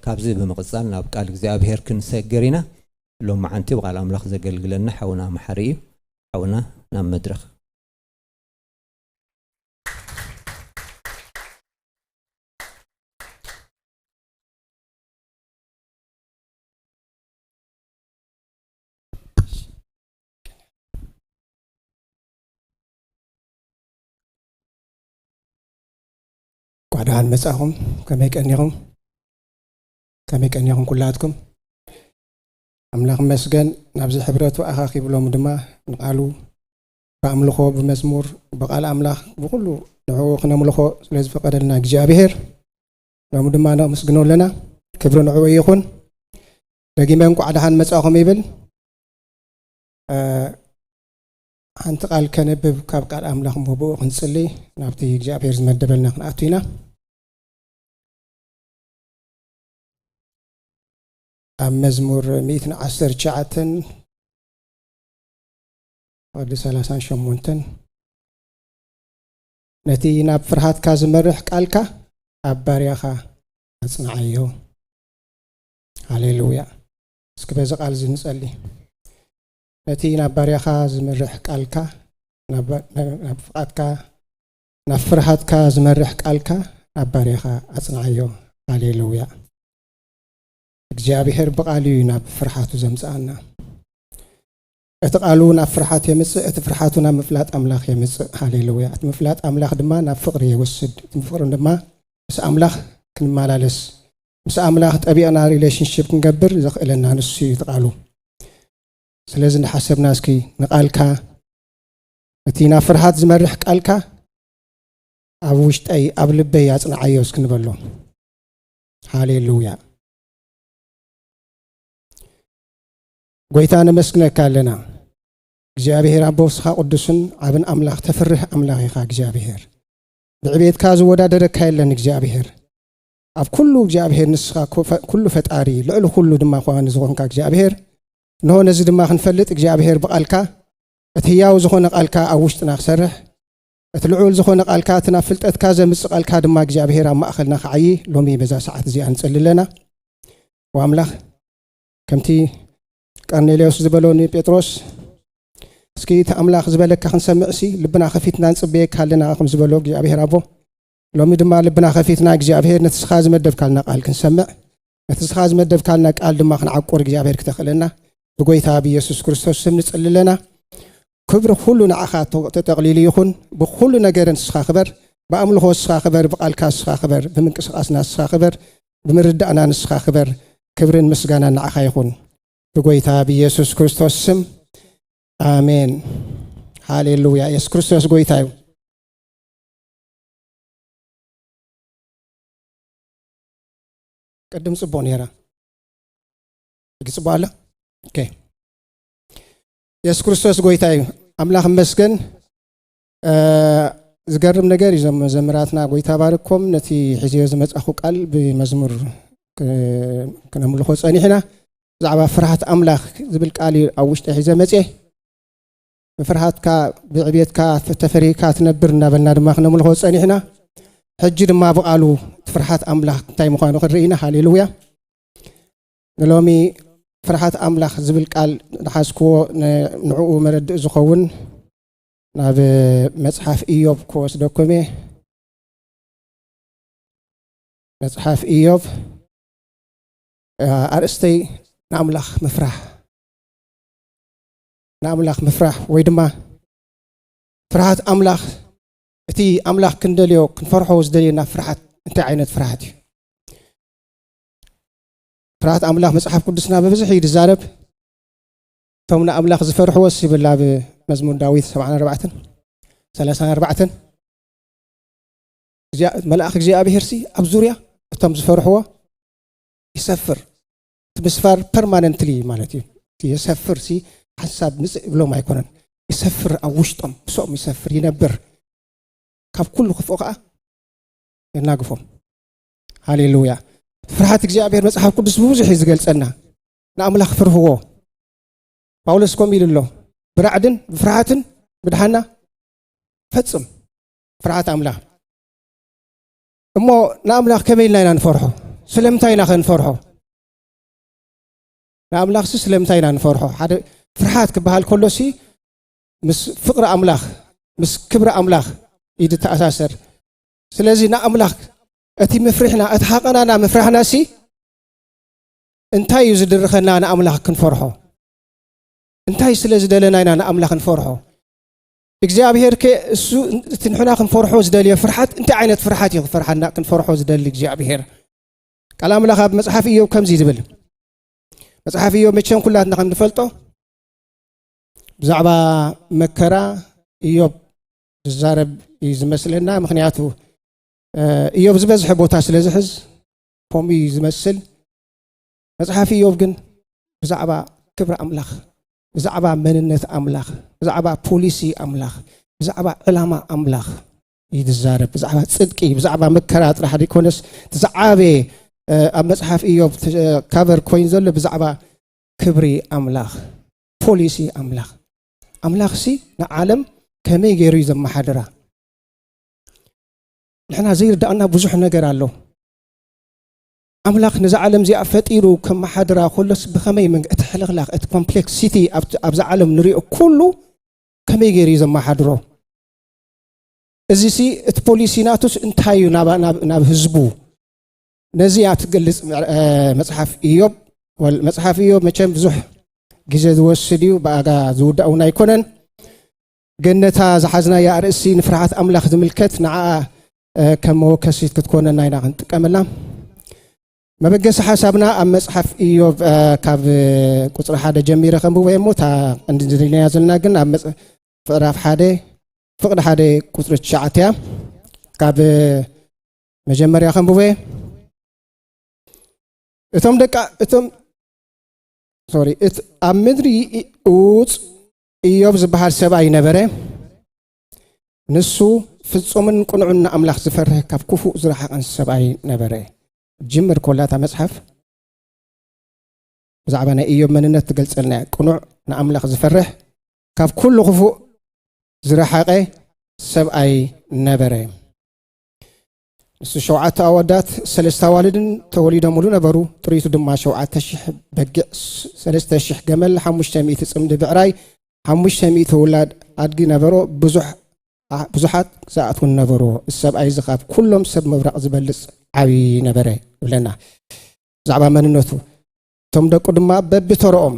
ካብዚ ብምቕጻል ናብ ቃል እግዚኣብሄር ክንሰግር ኢና። ሎምዓንቲ ብቓል ኣምላኽ ዘገልግለና ሓውና መሓሪ እዩ። ሓውና ናብ መድረኽ። እንኳዕ ደሓን መጻእኹም ከመይ ቀኒኹም ከመይ ቀኒኹም ኩላትኩም ኣምላኽ መስገን ናብዚ ሕብረቱ ኣኻኺብሎም ድማ ንቓሉ ብኣምልኾ ብመዝሙር ብቓል ኣምላኽ ብኩሉ ንዕኡ ክነምልኾ ስለ ዝፈቀደልና እግዚኣብሄር ሎሚ ድማ ነመስግኖ ኣለና ክብሪ ንዕኡ ይኹን ደጊመ እንኳዕ ደሓን መጻእኹም ይብል ሓንቲ ቃል ከነብብ ካብ ቃል ኣምላኽ እሞ ብኡ ክንጽሊ ናብቲ እግዚኣብሔር ዝመደበልና ክንኣቱ ኢና ኣብ መዝሙር ሚእትን ዓስር ትሽዓተን ወዲ ሰላሳን ሸሞንተን ነቲ ናብ ፍርሃትካ ዝመርሕ ቃልካ ኣብ ባርያኻ ኣጽንዓዮ ሃሌሉያ እስኪ በዚ ቃል እዚ ንጸሊ ነቲ ናብ ባርያኻ ዝመርሕ ቃልካ ናብ ፍቓድካ ናብ ፍርሃትካ ዝመርሕ ቃልካ ናብ ባርያኻ ኣጽንዓዮ ሃሌሉያ እግዚኣብሔር ብቃሉ እዩ ናብ ፍርሓቱ ዘምጽኣና እቲ ቃሉ ናብ ፍርሓት የምጽእ እቲ ፍርሓቱ ናብ ምፍላጥ ኣምላኽ የምጽእ ሃሌሉያ እቲ ምፍላጥ ኣምላኽ ድማ ናብ ፍቅሪ የወስድ እቲ ፍቅሪ ድማ ምስ ኣምላኽ ክንመላለስ ምስ ኣምላኽ ጠቢቕና ሪሌሽንሽፕ ክንገብር ዘኽእለና ንሱ እዩ ትቃሉ ስለዚ እንዳሓሰብና እስኪ ንቃልካ እቲ ናብ ፍርሃት ዝመርሕ ቃልካ ኣብ ውሽጠይ ኣብ ልበይ ኣጽንዓዮ እስኪ ንበሎ ሃሌሉያ ጎይታ ነመስግነካ ኣለና እግዚኣብሔር ኣቦ ስኻ ቅዱስን ዓብን ኣምላኽ ተፍርህ ኣምላኽ ኢኻ እግዚኣብሔር ብዕቤትካ ዝወዳደረካ የለን እግዚኣብሔር ኣብ ኩሉ እግዚኣብሔር ንስኻ ኩሉ ፈጣሪ ልዕሊ ኩሉ ድማ ኳኒ ዝኾንካ እግዚኣብሔር እንሆ ነዚ ድማ ክንፈልጥ እግዚኣብሔር ብቓልካ እቲ ህያው ዝኾነ ቓልካ ኣብ ውሽጥና ክሰርሕ እቲ ልዑል ዝኾነ ቓልካ እቲ ናብ ፍልጠትካ ዘምጽእ ቓልካ ድማ እግዚኣብሔር ኣብ ማእኸልና ክዓዪ ሎሚ በዛ ሰዓት እዚኣ ንጽሊ ኣለና ወኣምላኽ ከምቲ ቀርኔሌዎስ ዝበሎ ንጴጥሮስ እስኪ እቲ ኣምላኽ ዝበለካ ክንሰምዕሲ ልብና ከፊትና ንጽበየካ ኣለና ከም ዝበሎ እግዚኣብሔር ኣቦ ሎሚ ድማ ልብና ከፊትና እግዚኣብሔር ነቲ ስኻ ዝመደብካልና ቃል ክንሰምዕ ነቲ ስኻ ዝመደብካልና ቃል ድማ ክንዓቁር እግዚኣብሔር ክተኽእለና ብጎይታ ብኢየሱስ ክርስቶስ ስም ንጽልለና ክብሪ ኩሉ ንዓኻ ተጠቕሊሉ ይኹን ብኩሉ ነገርን ስኻ ክበር ብኣምልኾ ስኻ ክበር ብቓልካ ስኻ ክበር ብምንቅስቓስና ስኻ ክበር ብምርዳእና ንስኻ ክበር ክብርን ምስጋና ንዓኻ ይኹን ብጎይታ ብኢየሱስ ክርስቶስ ስም ኣሜን ሃሌሉያ የሱስ ክርስቶስ ጎይታ እዩ ቅድም ጽቡቅ ነይራ ሕጂ ጽቡቅ ኣላ ኦኬ የሱስ ክርስቶስ ጎይታ እዩ ኣምላኽ መስገን ዝገርም ነገር እዩ ዞም መዘምራትና ጎይታ ባርኮም ነቲ ሕዝዮ ዝመጻኹ ቃል ብመዝሙር ክነምልኾ ጸኒሕና ብዛዕባ ፍርሃት ኣምላኽ ዝብል ቃል እዩ ኣብ ውሽጢ ሒዘ መጽ ብፍርሃትካ ብዕቤትካ ተፈሪህካ ትነብር እንዳበልና ድማ ክነምልኾ ፀኒሕና ሕጂ ድማ ብቓሉ እቲ ፍርሓት ኣምላኽ እንታይ ምዃኑ ክንርኢ ኢና ሃሌሉያ ንሎሚ ፍርሓት ኣምላኽ ዝብል ቃል ንሓዝክዎ ንዕኡ መረድእ ዝኸውን ናብ መፅሓፍ ኢዮብ ክወስደኩም እየ መፅሓፍ ኢዮብ ኣርእስተይ ንኣምላኽ ምፍራሕ ንኣምላኽ ምፍራሕ ወይ ድማ ፍርሃት ኣምላኽ እቲ ኣምላኽ ክንደልዮ ክንፈርሖ ዝደልየና ፍርሓት እንታይ ዓይነት ፍርሃት እዩ ፍርሃት ኣምላኽ መፅሓፍ ቅዱስና ብብዝሕ እዩ ዝዛረብ እቶም ንኣምላኽ ዝፈርሕዎስ ይብል ኣብ መዝሙር ዳዊት 74 34 መልኣኽ እግዚኣብሄርሲ ኣብ ዙርያ እቶም ዝፈርሕዎ ይሰፍር ምስፋር ፐርማነንትሊ ማለት እዩ የሰፍር ሲ ሓንሳብ ምፅእ ይብሎም ኣይኮነን ይሰፍር ኣብ ውሽጦም ምስኦም ይሰፍር ይነብር ካብ ኩሉ ክፍኦ ከዓ የናግፎም ሃሌሉያ ፍርሃት እግዚኣብሔር መፅሓፍ ቅዱስ ብብዙሕ እዩ ዝገልፀና ንኣምላኽ ፍርህዎ ጳውሎስ ከምኡ ኢሉ ኣሎ ብራዕድን ብፍርሃትን ምድሓና ፈፅም ፍርሃት ኣምላኽ እሞ ንኣምላኽ ከመይ ኢልና ኢና ንፈርሖ? ስለምንታይ ኢናኸ ንፈርሖ? ንኣምላኽሲ ስለምንታይ ኢና ንፈርሖ? ሓደ ፍርሓት ክበሃል ከሎሲ ምስ ፍቕሪ ኣምላኽ ምስ ክብሪ ኣምላኽ እዩ ዝተኣሳሰር። ስለዚ ንኣምላኽ እቲ ምፍርሕና እቲ ሃቐናና ምፍራሕናሲ እንታይ እዩ ዝድርኸና ንኣምላኽ ክንፈርሖ? እንታይ ስለ ዝደለና ኢና ንኣምላኽ ንፈርሖ? እግዚኣብሄር ከ እሱ እቲ ንሕና ክንፈርሖ ዝደልዮ ፍርሓት እንታይ ዓይነት ፍርሓት እዩ ክፈርሓና ክንፈርሖ ዝደሊ እግዚኣብሄር ቃል ኣምላኽ ኣብ መፅሓፍ እዮብ ከምዚ ዝብል መፅሓፍ እዮብ መቸም ኩላትና ከም ንፈልጦ ብዛዕባ መከራ እዮብ ዝዛረብ እዩ ዝመስለና ምክንያቱ እዮብ ዝበዝሐ ቦታ ስለ ዝሕዝ ከምኡ እዩ ዝመስል መፅሓፍ እዮብ ግን ብዛዕባ ክብሪ ኣምላኽ ብዛዕባ መንነት ኣምላኽ ብዛዕባ ፖሊሲ ኣምላኽ ብዛዕባ ዕላማ ኣምላኽ እዩ ዝዛረብ ብዛዕባ ፅድቂ ብዛዕባ መከራ ጥራሕ ዘይኮነስ እቲ ዝዓበየ ኣብ መፅሓፍ እዮብ ካቨር ኮይኑ ዘሎ ብዛዕባ ክብሪ ኣምላኽ ፖሊሲ ኣምላኽ ኣምላኽ ሲ ንዓለም ከመይ ገይሩ እዩ ዘመሓድራ ንሕና ዘይርዳእና ብዙሕ ነገር ኣሎ ኣምላኽ ነዛ ዓለም እዚኣ ፈጢሩ ከመሓድራ ከሎስ ብኸመይ መንገ እቲ ሕልኽላኽ እቲ ኮምፕሌክሲቲ ኣብዛ ዓለም ንሪኦ ኩሉ ከመይ ገይሩ እዩ ዘመሓድሮ እዚሲ እቲ ፖሊሲ ናቱስ እንታይ እዩ ናብ ህዝቡ ነዚ እያ ትገልጽ መጽሓፍ እዮብ መጽሓፍ እዮብ መቸም ብዙሕ ግዜ ዝወስድ እዩ ብኣጋ ዝውዳእ እውን ኣይኮነን ግን ነታ ዝሓዝናያ ኣርእስቲ ንፍርሃት ኣምላኽ ዝምልከት ንዓኣ ከም መወከሲት ክትኮነና ኢና ክንጥቀመላ መበገሲ ሓሳብና ኣብ መፅሓፍ ኢዮብ ካብ ቁፅሪ ሓደ ጀሚረ ከንብቦ እየ እሞ እታ እንድንድልናያ ዘለና ግን ኣብ ምዕራፍ ሓደ ፍቅዲ ሓደ ቁፅሪ ትሽዓተ እያ ካብ መጀመርያ ከንብቦ እየ እቶም ደቂ እቶም ሶሪ ኣብ ምድሪ እውፅ እዮብ ዝበሃል ሰብኣይ ነበረ። ንሱ ፍጹምን ቅኑዕን ንኣምላኽ ዝፈርህ ካብ ክፉእ ዝረሓቐን ሰብኣይ ነበረ። ጅምር ኮላ እታ መጽሓፍ ብዛዕባ ናይ እዮብ መንነት ትገልጸልና እያ። ቅኑዕ፣ ንኣምላኽ ዝፈርህ፣ ካብ ኩሉ ክፉእ ዝረሓቐ ሰብኣይ ነበረ። ንሱ ሸውዓተ ኣወዳት ሰለስተ ኣዋልድን ተወሊዶምሉ ነበሩ። ጥሪቱ ድማ ሸውዓተ ሽሕ በጊዕ፣ ሰለስተ ሽሕ ገመል፣ ሓሙሽተ ሚእቲ ጽምዲ ብዕራይ፣ ሓሙሽተ ሚእቲ ውላድ ኣድጊ ነበሮ። ብዙሓት ግዛኣት እውን ነበርዎ። እዚ ሰብኣይ እዚ ካብ ኩሎም ሰብ ምብራቕ ዝበልጽ ዓብዪ ነበረ ይብለና ብዛዕባ መንነቱ። እቶም ደቁ ድማ በቢተርኦም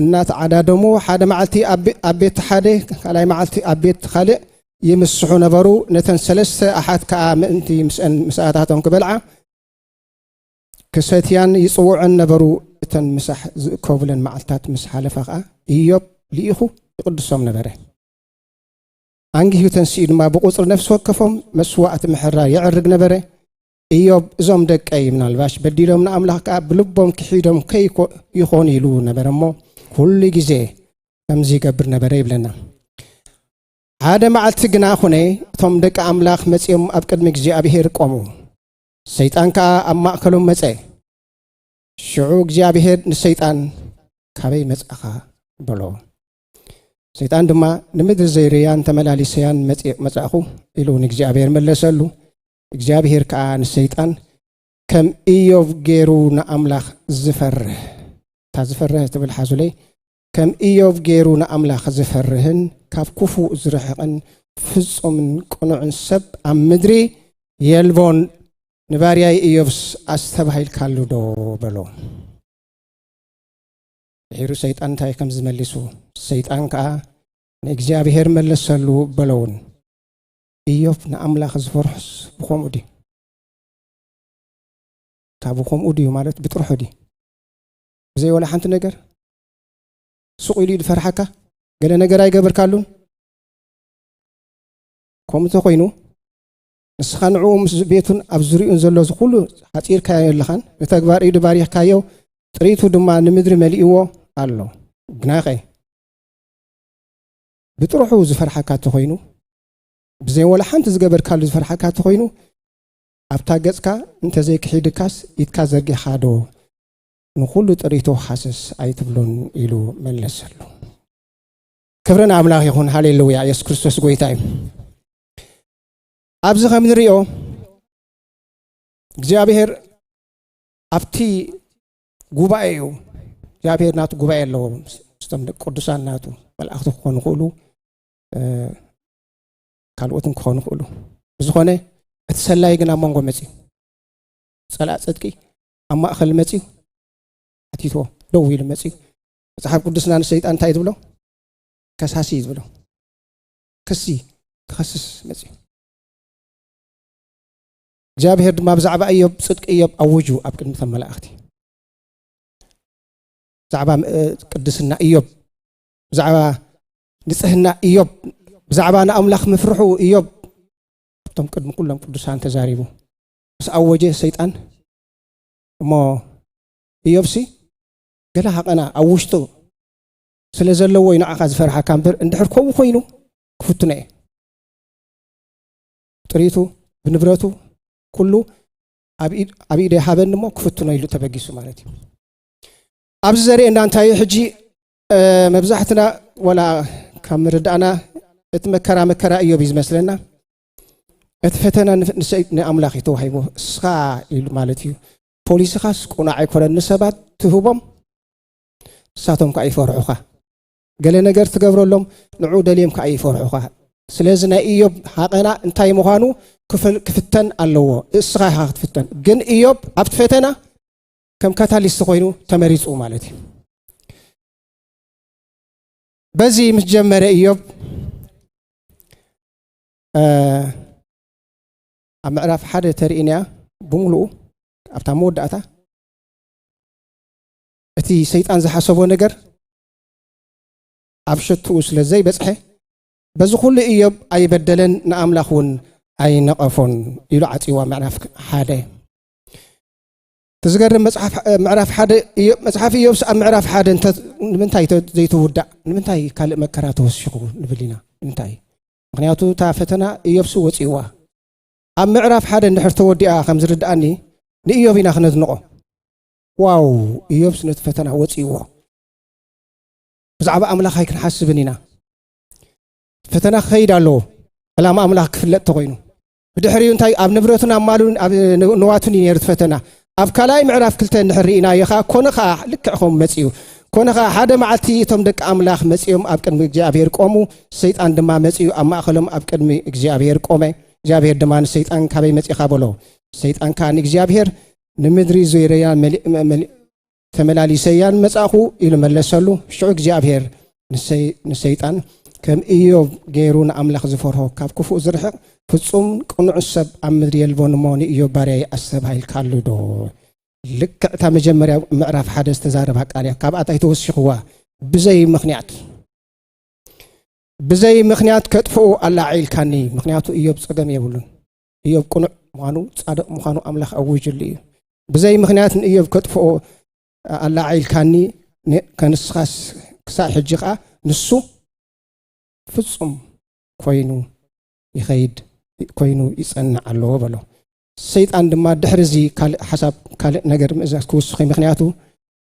እናተዓዳደሙ ሓደ መዓልቲ ኣብ ቤት ሓደ ካልኣይ መዓልቲ ኣብ ቤት ካልእ ይምስሑ ነበሩ ነተን ሰለስተ ኣሓት ከዓ ምእንቲ ምስአን ምስኣታቶም ክበልዓ ክሰትያን ይፅውዐን ነበሩ እተን ምሳሕ ዝእከቡለን መዓልትታት ምስ ሓለፋ ከዓ እዮብ ልኢኹ ይቕድሶም ነበረ ኣንጊሁ ተንስኡ ድማ ብቁፅሪ ነፍሲ ወከፎም መስዋእቲ ምሕራ የዕርግ ነበረ እዮብ እዞም ደቀይ ምናልባሽ በዲሎም ንኣምላኽ ከዓ ብልቦም ክሒዶም ከይኮኑ ኢሉ ነበረ እሞ ኩሉ ግዜ ከምዚ ይገብር ነበረ ይብለና ሓደ መዓልቲ ግና ኹነ እቶም ደቂ ኣምላኽ መፂኦም ኣብ ቅድሚ እግዚኣብሄር ቆሙ ሰይጣን ከዓ ኣብ ማእከሎም መፀ ሽዑ እግዚኣብሄር ንሰይጣን ካበይ መፅእኻ በሎ ሰይጣን ድማ ንምድሪ ዘይርያን ተመላሊሰያን መፃእኹ ኢሉ ንእግዚኣብሄር መለሰሉ እግዚኣብሄር ከኣ ንሰይጣን ከም እዮብ ገይሩ ንኣምላኽ ዝፈርህ እታ ዝፈርህ ትብል ሓዙለይ ከም እዮብ ገይሩ ንኣምላኽ ዝፈርህን ካብ ክፉእ ዝርሕቕን ፍጹምን ቅኑዕን ሰብ ኣብ ምድሪ የልቦን ንባርያይ እዮብስ ኣስተባሂልካሉ ዶ በሎ ድሒሩ ሰይጣን እንታይ ከም ዝመሊሱ ሰይጣን ከዓ ንእግዚኣብሔር መለሰሉ በለውን እዮብ ንኣምላኽ ዝፈርሖስ ብኸምኡ ድዩ? ካብኡ ከምኡ ድዩ ማለት ብጥርሑ ድዩ? ብዘይ ወላ ሓንቲ ነገር ሱቕ ኢሉ ዝፈርሓካ ገለ ነገር ኣይገበርካሉን? ከምኡ እንተኾይኑ ንስኻ ንዕኡ ምስ ቤቱን ኣብ ዝርኡን ዘሎ ዝኩሉ ሓፂርካዮ ኣለኻን ንተግባር ኢዱ ባሪኽካዮ ጥሪቱ ድማ ንምድሪ መሊእዎ ኣሎ ግናኸ ብጥርሑ ዝፈርሓካ እንተኾይኑ ብዘይ ወላ ሓንቲ ዝገበርካሉ ዝፈርሓካ እንተኾይኑ ኣብታ ገጽካ እንተዘይክሒድካስ ኢድካ ዘርጊሕካ ዶ ንኹሉ ጥሪቶ ሃስስ ኣይትብሎን ኢሉ መለሰሉ። ክብሪ ንኣምላኽ ይኹን። ሃሌሉያ! የሱስ ክርስቶስ ጎይታ እዩ። ኣብዚ ከም ንሪኦ እግዚኣብሄር ኣብቲ ጉባኤ እዩ እግዚኣብሄር ናቱ ጉባኤ ኣለዎ ምስቶም ቅዱሳን ናቱ መልእኽቲ ክኾኑ ክእሉ ካልኦትን ክኾኑ ይኽእሉ ብዝኾነ እቲ ሰላይ ግን ኣብ መንጎ መፅዩ ፀላእ ፅድቂ ኣብ ማእኸል መፅዩ ኣቲትዎ ደው ኢሉ መፅዩ መፅሓፍ ቅዱስና ንሰይጣን እንታይ ዝብሎ ከሳሲ እዩ ዝብሎ ክሲ ክኸስስ መፅዩ እግዚኣብሄር ድማ ብዛዕባ እዮብ ፅድቂ እዮብ ኣውጁ ኣብ ቅድሚ ተን መላእኽቲ ብዛዕባ ቅድስና እዮብ ብዛዕባ ንጽህና እዮብ ብዛዕባ ንኣምላኽ ምፍርሑ እዮብ እቶም ቅድሚ ኩሎም ቅዱሳን ተዛሪቡ ምስ ኣወጀ ሰይጣን እሞ እዮብሲ ገለ ሃቐና ኣብ ውሽጡ ስለ ዘለዎ እዩ ንዓኻ ዝፈርሓካ እምበር እንድሕር ከምኡ ኮይኑ ክፍትኖ እየ ጥሪቱ ብንብረቱ ኩሉ ኣብ ኢደ ሃበኒ እሞ ክፍትኖ ኢሉ ተበጊሱ ማለት እዩ ኣብዚ ዘርእየና እንታይ እዩ ሕጂ መብዛሕትና ወላ ካብ ምርዳእና እቲ መከራ መከራ እዮብ እዩ ዝመስለና እቲ ፈተና ንኣምላኽ እዩ ተዋሂቦ እስኻ ኢሉ ማለት እዩ ፖሊስኻስ ቁናዕ ኣይኮነን ንሰባት ትህቦም ንሳቶም ከዓ ይፈርሑኻ ገለ ነገር ትገብረሎም ንዑ ደልዮም ከዓ ይፈርሑኻ ስለዚ ናይ እዮብ ሃቐና እንታይ ምዃኑ ክፍተን ኣለዎ እስኻ ኢኻ ክትፍተን ግን እዮብ ኣብቲ ፈተና ከም ካታሊስት ኮይኑ ተመሪጹ ማለት እዩ በዚ ምስ ጀመረ እዮብ ኣብ ምዕራፍ ሓደ ተርእንያ ብምሉኡ ኣብታ መወዳእታ እቲ ሰይጣን ዝሓሰቦ ነገር ኣብ ሸትኡ ስለ ዘይበፅሐ በዚ ኩሉ እዮብ ኣይበደለን ንኣምላኽ እውን ኣይነቐፎን ኢሉ ዓፅዋ ምዕራፍ ሓደ ዝገርም ምዕራፍ ሓደ መፅሓፍ ኢዮብስ ኣብ ምዕራፍ ሓደ ንምንታይ ዘይትውዳእ ንምንታይ ካልእ መከራ ተወሲኹ ንብል ኢና ንምንታይ ምክንያቱ እታ ፈተና ኢዮብስ ወፅዋ ኣብ ምዕራፍ ሓደ እንድሕር ተወዲኣ ከም ዝርድኣኒ ንኢዮብ ኢና ክነድንቆ ዋው ኢዮብስ ነቲ ፈተና ወፅዎ ብዛዕባ ኣምላኽ ኣይክንሓስብን ኢና ፈተና ክኸይድ ኣለዎ ዕላማ ኣምላኽ ክፍለጥ ተኮይኑ ብድሕሪኡ እንታይ ኣብ ንብረቱን ኣብ ማሉን ኣብ ንዋቱን እዩ ነይሩ ፈተና ኣብ ካልኣይ ምዕራፍ ክልተ እንድሕር ርኢናዮ ከዓ ኮነ ከዓ ልክዕ ከምኡ መፅኡ ኮነ ከዓ ሓደ መዓልቲ እቶም ደቂ ኣምላኽ መፂኦም ኣብ ቅድሚ እግዚኣብሔር ቆሙ ሰይጣን ድማ መፅኡ ኣብ ማእኸሎም ኣብ ቅድሚ እግዚኣብሔር ቆመ እግዚኣብሔር ድማ ንሰይጣን ካበይ መፂኻ በሎ ሰይጣን ከዓ ንእግዚኣብሔር ንምድሪ ዙይረያ ተመላሊሰያን መጻእኹ ኢሉ መለሰሉ። ሽዑ እግዚኣብሄር ንሰይጣን ከም ኢዮብ ገይሩ ንኣምላኽ ዝፈርሆ ካብ ክፉእ ዝርሕቕ ፍጹም ቅኑዕ ሰብ ኣብ ምድሪ የልቦን እሞ ንኢዮብ ባርያይ ኣስተብሃልካሉ ዶ? ልክዕ እታ መጀመርያ ምዕራፍ ሓደ ዝተዛረባ ቃል እያ ካብኣ እንታይ ተወሲኽዋ ብዘይ ምክንያት ብዘይ ምክንያት ከጥፍኡ ኣላዒልካኒ ምክንያቱ እዮብ ፀገም የብሉን እዮብ ቅኑዕ ምዃኑ ጻድቕ ምዃኑ ኣምላኽ ኣዊጅሉ እዩ ብዘይ ምኽንያት ንእዮብ ከጥፍኦ ኣላዓኢልካኒ ከንስኻስ ክሳዕ ሕጂ ከዓ ንሱ ፍጹም ኮይኑ ይኸይድ ኮይኑ ይጸንዕ ኣለዎ በሎ ሰይጣን ድማ ድሕሪ እዚ ካልእ ሓሳብ ካልእ ነገር ምእዛዝ ክውስኺ ምክንያቱ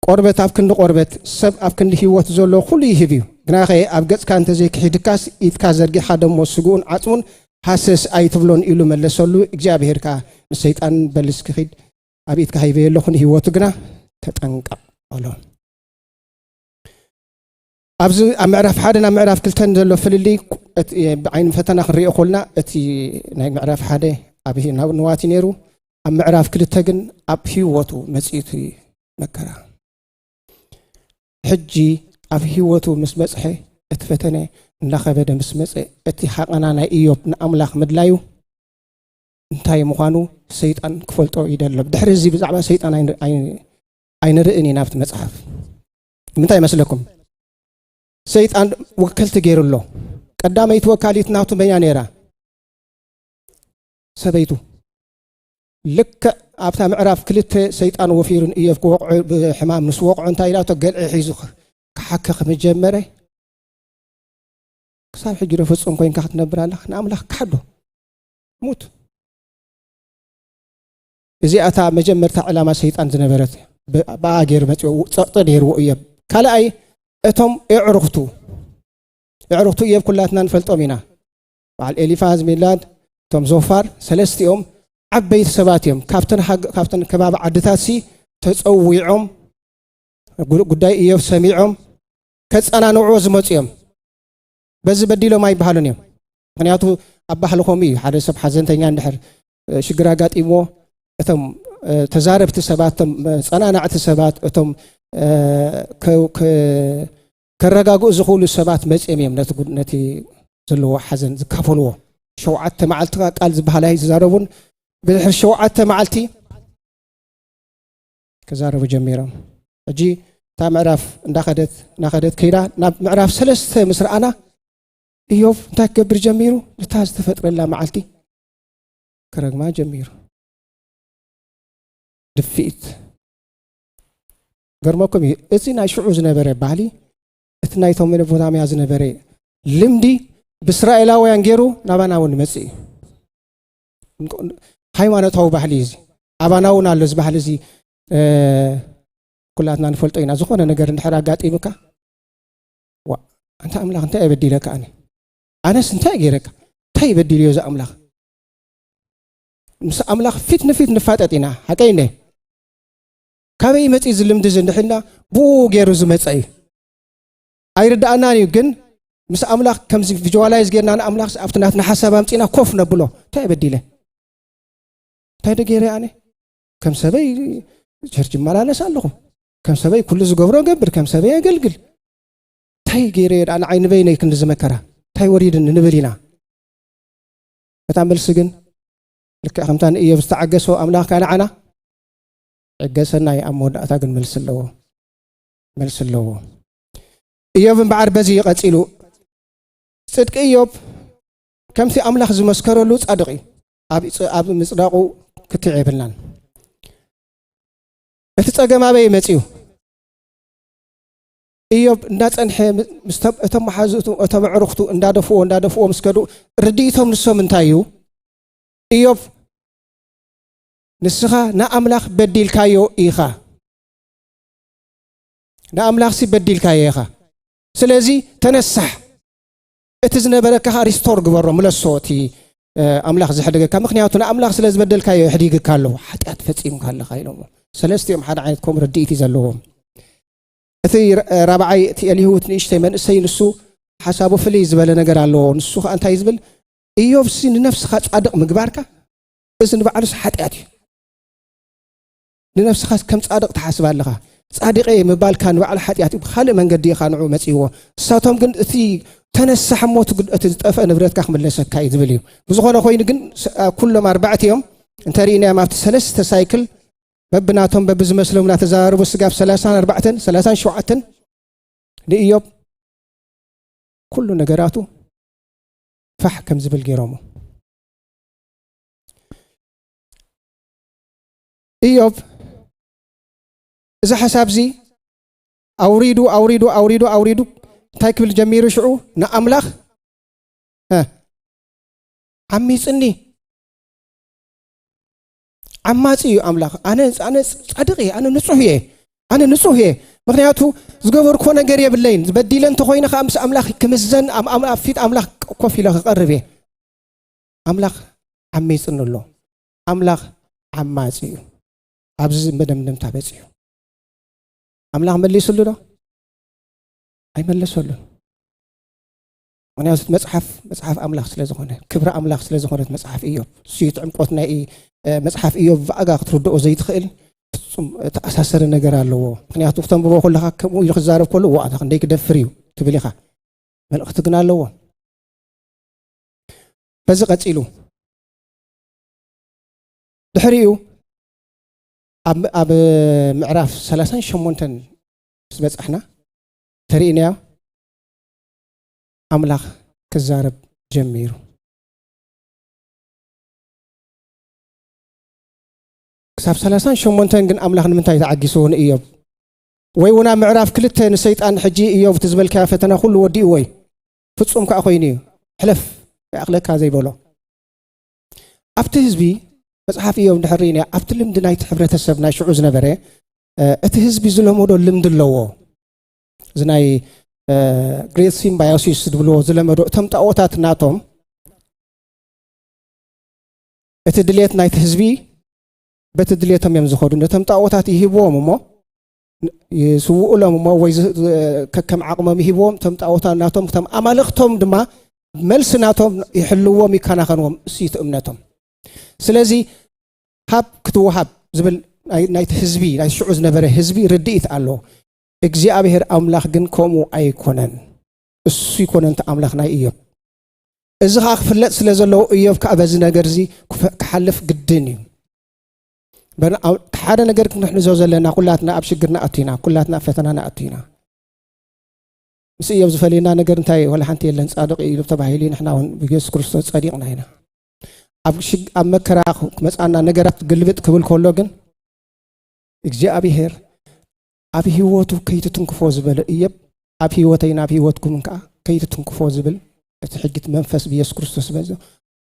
ቆርበት ኣብ ክንዲ ቆርበት፣ ሰብ ኣብ ክንዲ ህይወት ዘሎ ኩሉ ይህብ እዩ። ግናኸ ኣብ ገጽካ እንተዘይክሒድካስ ኢድካ ዘርጊሓ ደሞ ስግኡን ዓጽሙን ሃሰስ ኣይትብሎን ኢሉ መለሰሉ። እግዚኣብሄር ከኣ ንሰይጣን በል እስኪ ኺድ ኣብ ኢድካ ሂበዮ ኣለኹ ንህይወቱ ግና ተጠንቀቕ በሎ። ኣብዚ ኣብ ምዕራፍ ሓደን ኣብ ምዕራፍ ክልተን ዘሎ ፍልልይ ብዓይኒ ፈተና ክንሪኦ ኮልና እቲ ናይ ምዕራፍ ሓደ ኣብ ናብ ንዋት እዩ ነይሩ ኣብ ምዕራፍ ክልተ ግን ኣብ ህይወቱ መፅኡ እቲ መከራ ሕጂ ኣብ ህይወቱ ምስ በፅሐ እቲ ፈተነ እንዳኸበደ ምስ መፀ እቲ ሓቐና ናይ እዮብ ንኣምላኽ ምድላዩ እንታይ ምዃኑ ሰይጣን ክፈልጦ ይደሎ ድሕሪ እዚ ብዛዕባ ሰይጣን ኣይንርእን ኢና ኣብቲ መፅሓፍ እንታይ ይመስለኩም? ሰይጣን ወከልቲ ገይሩ ኣሎ። ቀዳመይቲ ወካሊት ናቱ መያ ነይራ? ሰበይቱ ልክዕ ኣብታ ምዕራፍ ክልተ ሰይጣን ወፊሩን እዮብ ክወቕዑ ብሕማም ምስ ወቕዑ እንታይ ኢላቶ ገልዒ ሒዙ ክሓከ ከምጀመረ ክሳብ ሕጂ ዶ ፍፁም ኮይንካ ክትነብር ኣለካ ንኣምላኽ ክሓዶ ሙት እዚኣ እታ መጀመርታ ዕላማ ሰይጣን ዝነበረት ብኣ ገይሩ መፅኦ ፀቕጢ ነይርዎ እዮብ ካልኣይ እቶም እዕርኽቱ እዕርኽቱ እዮብ ኩላትና ንፈልጦም ኢና በዓል ኤሊፋዝ ሚላድ እቶም ዞፋር ሰለስቲኦም ዓበይቲ ሰባት እዮም ካብተን ከባቢ ዓድታት ሲ ተፀዊዖም ጉዳይ እዮብ ሰሚዖም ከፀናንዑ ዝመፁ እዮም በዚ በዲሎም ኣይበሃሉን እዮም ምክንያቱ ኣብ ባህሊ ከምኡ እዩ ሓደ ሰብ ሓዘንተኛ እንድሕር ሽግር ኣጋጢምዎ እቶም ተዛረብቲ ሰባት እቶም ፀናናዕቲ ሰባት እቶም ከረጋግኡ ዝኽእሉ ሰባት መፅም እዮም ነቲ ዘለዎ ሓዘን ዝካፈልዎ ሸውዓተ መዓልቲ ቃል ዝበሃል ኣይዝዛረቡን ብድሕሪ ሸውዓተ መዓልቲ ክዛረቡ ጀሚሮም ሕጂ እታ ምዕራፍ እንዳኸደት እናኸደት ከይዳ ናብ ምዕራፍ ሰለስተ ምስ ረኣና እዮብ እንታይ ክገብር ጀሚሩ ነታ ዝተፈጥረላ መዓልቲ ክረግማ ጀሚሩ ድፍኢት ገርመኩም እዩ እዚ ናይ ሽዑ ዝነበረ ባህሊ እቲ ናይቶም መነቦታምያ ዝነበረ ልምዲ ብእስራኤላውያን ገይሩ ናባና እውን ይመፅእ እዩ ሃይማኖታዊ ባህሊ እዩ እዚ ኣባና እውን ኣሎ እዚ ባህሊ እዚ ኩላትና ንፈልጦ ኢና ዝኾነ ነገር እንድሕር ኣጋጢሙካ ኣንታ ኣምላኽ እንታይ የበዲለካ ኣነ ኣነስ እንታይ ገይረካ እንታይ ይበዲል እዮ እዚ ኣምላኽ ምስ ኣምላኽ ፊት ንፊት ንፋጠጥ ኢና ሓቀይ ነ ካበይ መፂ እዚ ልምዲ እዚ እንድሕልና ብኡ ገይሩ ዝመፀ እዩ ኣይርዳእናን እዩ ግን ምስ ኣምላኽ ከምዚ ቪጅዋላይዝ ገይርና ንኣምላኽ ኣብቲ ናትና ሓሳብ ኣምፅና ኮፍ ነብሎ እንታይ የበዲለ እንታይ ደ ገይረ ኣነ ከም ሰበይ ቸርች ይመላለስ ኣለኹ ከም ሰበይ ኩሉ ዝገብሮ እገብር ከም ሰበይ የገልግል እንታይ ገይረ እየ ደኣ ንዓይ ንበይነይ ክንዲ ዝመከራ እንታይ ወሪድኒ ንብል ኢና እታ መልሲ ግን ልክዕ ከምታ ንእዮብ ዝተዓገሶ ኣምላኽ ካኣ ንዓና ዕገሰና እዩ ኣብ መወዳእታ ግን መልሲ ኣለዎ መልሲ ኣለዎ እዮብ እምበዓር በዚ ይቐፂሉ ፅድቂ እዮብ ከምቲ ኣምላኽ ዝመስከረሉ ፃድቕ እዩ ኣብ ምፅዳቑ ክትዕ የብልናን እቲ ጸገም ኣበይ መጺኡ? እዮብ እንዳጸንሐ እቶም መሓዙቱ እቶም ኣዕሩኽቱ እንዳደፍዎ እንዳደፍዎ ምስ ከዱ ርድኢቶም ንሶም እንታይ እዩ? እዮብ ንስኻ ንኣምላኽ በዲልካዮ ኢኻ ንኣምላኽሲ በዲልካዮ ኢኻ ስለዚ ተነሳሕ እቲ ዝነበረካኻ ሪስቶር ግበሮ ምለሶ እቲ ኣምላኽ ዝሕደገካ ምክንያቱ ንኣምላኽ ስለ ዝበደልካዮ የሕዲግካ ኣለዎ ሓጢኣት ፈፂምካ ኣለካ ኢሎሞ ሰለስቲኦም ሓደ ዓይነት ኮም ርድኢት እዩ ዘለዎም እቲ ራብዓይ እቲ ኤልሁት ንእሽተይ መንእሰይ ንሱ ሓሳቡ ፍልይ ዝበለ ነገር ኣለዎ ንሱ ከዓ እንታይ ዝብል እዮብሲ ንነፍስኻ ፃድቕ ምግባርካ እዚ ንባዕሉስ ሓጢኣት እዩ ንነፍስኻስ ከም ጻድቕ ትሓስብ ኣለኻ ጻድቀ ምባልካ ንባዕሉ ሓጢኣት ብካልእ መንገዲ ኢኻ ንዑ መፅዎ ንሳቶም ግን እቲ ተነሳሕ እሞ እቲ ዝጠፍአ ንብረትካ ክምለሰካ እዩ ዝብል እዩ ብዝኾነ ኮይኑ ግን ኩሎም ኣርባዕት እዮም እንተርእናዮም ኣብቲ ሰለስተ ሳይክል በብናቶም በብዝመስሎም እናተዘራርቡ ስጋብ ሰላሳን ኣርባዕተን ሰላሳን ሸውዓተን ንእዮብ ኩሉ ነገራቱ ፋሕ ከም ዝብል ገይሮሞ እዮብ እዚ ሓሳብ እዚ ኣውሪዱ ኣውሪዱ ኣውሪዱ ኣውሪዱ እንታይ ክብል ጀሚሩ ሽዑ ንኣምላኽ ዓሚፅኒ ዓማፂ እዩ ኣምላኽ ኣነ ኣነ ፃድቅ እየ ኣነ ንፁህ እየ ኣነ ንፁህ እየ ምክንያቱ ዝገበርኮ ነገር የብለይን ዝበዲለ እንተኮይነ ከዓ ምስ ኣምላኽ ክምዘን ኣብ ፊት ኣምላኽ ኮፍ ኢለ ክቀርብ እየ ኣምላኽ ዓሚፅኒ ኣሎ ኣምላኽ ዓማጺ እዩ ኣብዚ መደምደምታ በፂሑ ኣምላኽ መሊስሉ ዶ ኣይመለሰሉን ምክንያቱ መፅሓፍ መፅሓፍ ኣምላኽ ስለ ዝኾነ ክብሪ ኣምላኽ ስለ ዝኾነት መፅሓፍ እዮ ስዩት ዕምቆት ናይ መፅሓፍ እዮ ብኣጋ ክትርድኦ ዘይትኽእል ፍፁም ተኣሳሰረ ነገር ኣለዎ ምክንያቱ ክተንብቦ ከለካ ከምኡ ኢሉ ክዛረብ ከሎ ዋኣታ ክንደይ ክደፍር እዩ ትብል ኢኻ መልእኽቲ ግን ኣለዎ በዚ ቀፂሉ ድሕሪኡ ኣብ ምዕራፍ ሰላሳን ሸሞንተን ምስ በጻሕና ተርእናዮ ኣምላኽ ክዛረብ ጀሚሩ ክሳብ ሰላሳን ሸሞንተን ግን ኣምላኽ ንምንታይ ተዓጊስዎ ንእዮብ ወይ እውን ኣብ ምዕራፍ ክልተ ንሰይጣን ሕጂ እዮብ እቲ ዝበልካዮ ፈተና ኩሉ ወዲእዎ እዩ ፍጹም ከዓ ኮይኑ እዩ ሕለፍ ይኣኽለካ ዘይበሎ ኣብቲ ህዝቢ መፅሓፍ እዮም ድሕር ርኢና ኣብቲ ልምዲ ናይቲ ሕብረተሰብ ናይ ሽዑ ዝነበረ እቲ ህዝቢ ዝለመዶ ልምዲ ኣለዎ እዚ ናይ ግሬት ሲምባዮሲስ ዝብልዎ ዝለመዶ እቶም ጣኦታት ናቶም እቲ ድሌት ናይቲ ህዝቢ በቲ ድሌቶም እዮም ዝኸዱ ነቶም ጣኦታት ይህብዎም እሞ ይስውኡሎም እሞ ወይ ከከም ዓቕሞም ይሂብዎም እቶም ጣዖታ ናቶም እቶም ኣማልኽቶም ድማ መልሲ ናቶም ይሕልዎም ይከናኸንዎም እሱዩቲ እምነቶም ስለዚ ሃብ ክትወሃብ ዝብል ናይቲ ህዝቢ ናይ ሽዑ ዝነበረ ህዝቢ ርድኢት ኣሎ እግዚኣብሄር ኣምላኽ ግን ከምኡ ኣይኮነን እሱ ይኮነን እቲ ኣምላኽ ናይ እዮብ እዚ ከዓ ክፍለጥ ስለ ዘለዎ እዮብ ከዓ በዚ ነገር እዚ ክሓልፍ ግድን እዩ ሓደ ነገር ክንሕንዞ ዘለና ኩላትና ኣብ ሽግር ንኣቱ ኢና ኩላትና ኣብ ፈተና ንኣቱ ኢና ምስ እዮብ ዝፈልየና ነገር እንታይ ወላ ሓንቲ የለን ፃድቅ እዩ ተባሂሉ ንሕና እውን ብየሱስ ክርስቶስ ፀዲቅና ኢና ኣብ መከራ ክመፃና ነገራት ግልብጥ ክብል ከሎ ግን እግዚኣብሄር ኣብ ህይወቱ ከይትትንክፎ ዝበለ እዮብ ኣብ ህይወተይን ኣብ ህይወትኩምን ከዓ ከይትትንክፎ ዝብል እቲ ሕጊት መንፈስ ብየሱስ ክርስቶስ ዝበዞ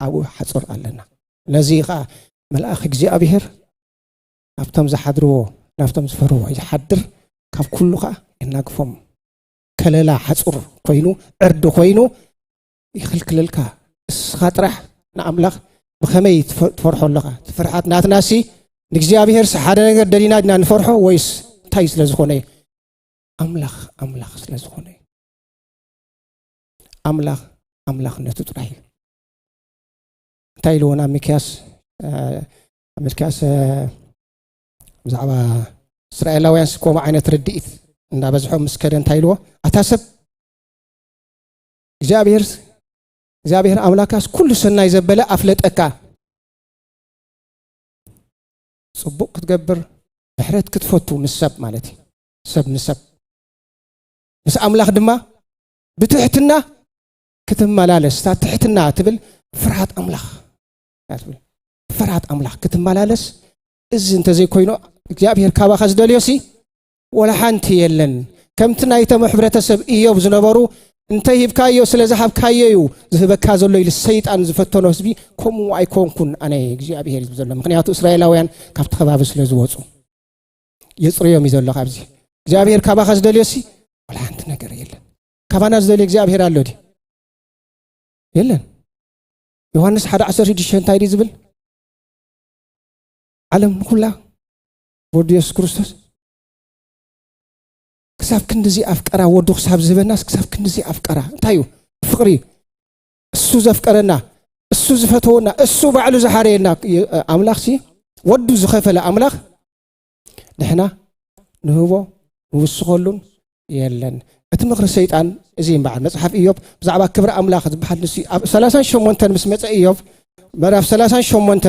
ኣብኡ ሓፁር ኣለና ነዚ ከዓ መልኣኽ እግዚኣብሄር ናብቶም ዝሓድርዎ ናብቶም ዝፈርዎ ይሓድር ካብ ኩሉ ከዓ የናግፎም ከለላ ሓፁር ኮይኑ ዕርዲ ኮይኑ ይኽልክለልካ እስኻ ጥራሕ ንኣምላኽ ብኸመይ ትፈርሖ ኣለኻ ትፍርሓት ናትናሲ ንእግዚኣብሄርሲ ሓደ ነገር ደሊና ድና ንፈርሖ ወይስ እንታይ ስለ ዝኾነ እዩ ኣምላኽ ኣምላኽ ስለ ዝኾነ እዩ ኣምላኽ ኣምላኽነቱ ጥራሕ እዩ እንታይ ኢልዎን ኣብ ሚክያስ ኣብ ሚክያስ ብዛዕባ እስራኤላውያንስ ከምኡ ዓይነት ርድኢት እናበዝሖም ምስ ከደ እንታይ ኢልዎ ኣታ ሰብ እግዚኣብሔር እግዚኣብሔር ኣምላካስ ኩሉ ሰናይ ዘበለ ኣፍለጠካ ፅቡቅ ክትገብር ምሕረት ክትፈቱ ምስ ሰብ ማለት እዩ ሰብ ንሰብ ምስ ኣምላኽ ድማ ብትሕትና ክትመላለስ እታ ትሕትና ትብል ፍርሃት ኣምላኽ ትብል ፍርሃት ኣምላኽ ክትመላለስ እዚ እንተዘይኮይኑ እግዚኣብሔር ካባኻ ዝደልዮ ሲ ወላ ሓንቲ የለን። ከምቲ ናይቶም ሕብረተሰብ እዮብ ዝነበሩ እንተ ሂብካዮ ስለ ዝሃብካዮ እዩ ዝህበካ ዘሎ ኢሉ ሰይጣን ዝፈተኖ ህዝቢ ከምኡ ኣይኮንኩን ኣነ እግዚኣብሄር ዝብ ዘሎ ምክንያቱ እስራኤላውያን ካብቲ ከባቢ ስለ ዝወፁ የፅርዮም እዩ ዘሎ ካብዚ እግዚኣብሄር ካባኻ ዝደልዮ ሲ ወላ ሓንቲ ነገር የለን ካባና ዝደልዮ እግዚኣብሄር ኣሎ ድዩ የለን ዮሃንስ ሓደ ዓሰርተ ሽዱሽተ እንታይ ድዩ ዝብል ዓለም ንኩላ ወዱ የሱስ ክርስቶስ ክሳብ ክንዲዚ ኣፍቀራ ወዱ ክሳብ ዝህበናስ ክሳብ ክንዲዚ ኣፍቀራ እንታይ እዩ ፍቕሪ እሱ ዘፍቀረና እሱ ዝፈተወና እሱ ባዕሉ ዝሓረየና ኣምላኽ ሲ ወዱ ዝኸፈለ ኣምላኽ ንሕና ንህቦ ንውስኸሉን የለን እቲ ምኽሪ ሰይጣን እዚ እምበዓል መፅሓፍ እዮብ ብዛዕባ ክብሪ ኣምላኽ ዝበሃል ንሱ ኣብ 38 ምስ መፀ እዮብ ምዕራፍ 38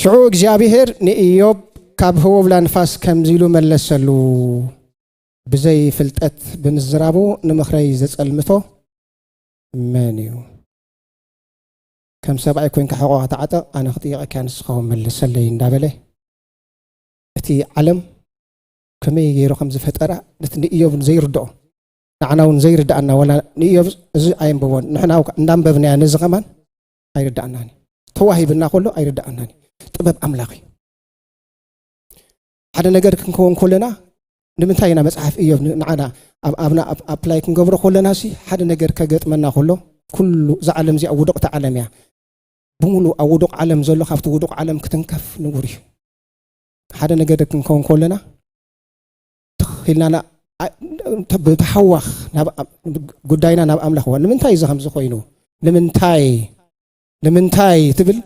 ሽዑ እግዚኣብሄር ንእዮብ ካብ ህቦብላ ንፋስ ከምዚ ኢሉ መለሰሉ፣ ብዘይ ፍልጠት ብምዝራቡ ንምኽረይ ዘጸልምቶ መን እዩ? ከም ሰብኣይ ኮይንካ ሕቖኻ ተዓጠቕ፣ ኣነ ክጥይቐካ ንስኻ ውን መልሰለይ እንዳበለ እቲ ዓለም ከመይ ገይሩ ከም ዝፈጠራ ነቲ ንእዮብ ዘይርድኦ ንዓና እውን ዘይርድኣና ዋላ ንእዮብ እዚ ኣየንበቦን ንሕና እንዳንበብናያ ነዚ ከማን ኣይርዳኣናን እዩ ተዋሂብና ከሎ ኣይርዳኣናን እዩ ጥበብ ኣምላኽ እዩ ሓደ ነገር ክንከውን ከለና ንምንታይ ኢና መፅሓፍ እዮብ ንዓና ኣብና ኣፕላይ ክንገብሮ ከለና ሲ ሓደ ነገር ከገጥመና ከሎ ኩሉ እዛ ዓለም እዚኣ ውድቕቲ ዓለም እያ ብምሉ ኣብ ውዱቕ ዓለም ዘሎ ካብቲ ውዱቕ ዓለም ክትንከፍ ንቡር እዩ ሓደ ነገር ክንከውን ከለና ትኽ ኢልና ና- ኣ- ተ- ብተሓዋኽ ናብ ኣ- ጉዳይና ናብ ኣምላኽ ዋ ንምንታይ እዚ ከምዚ ኮይኑ ንምንታይ ንምንታይ ትብል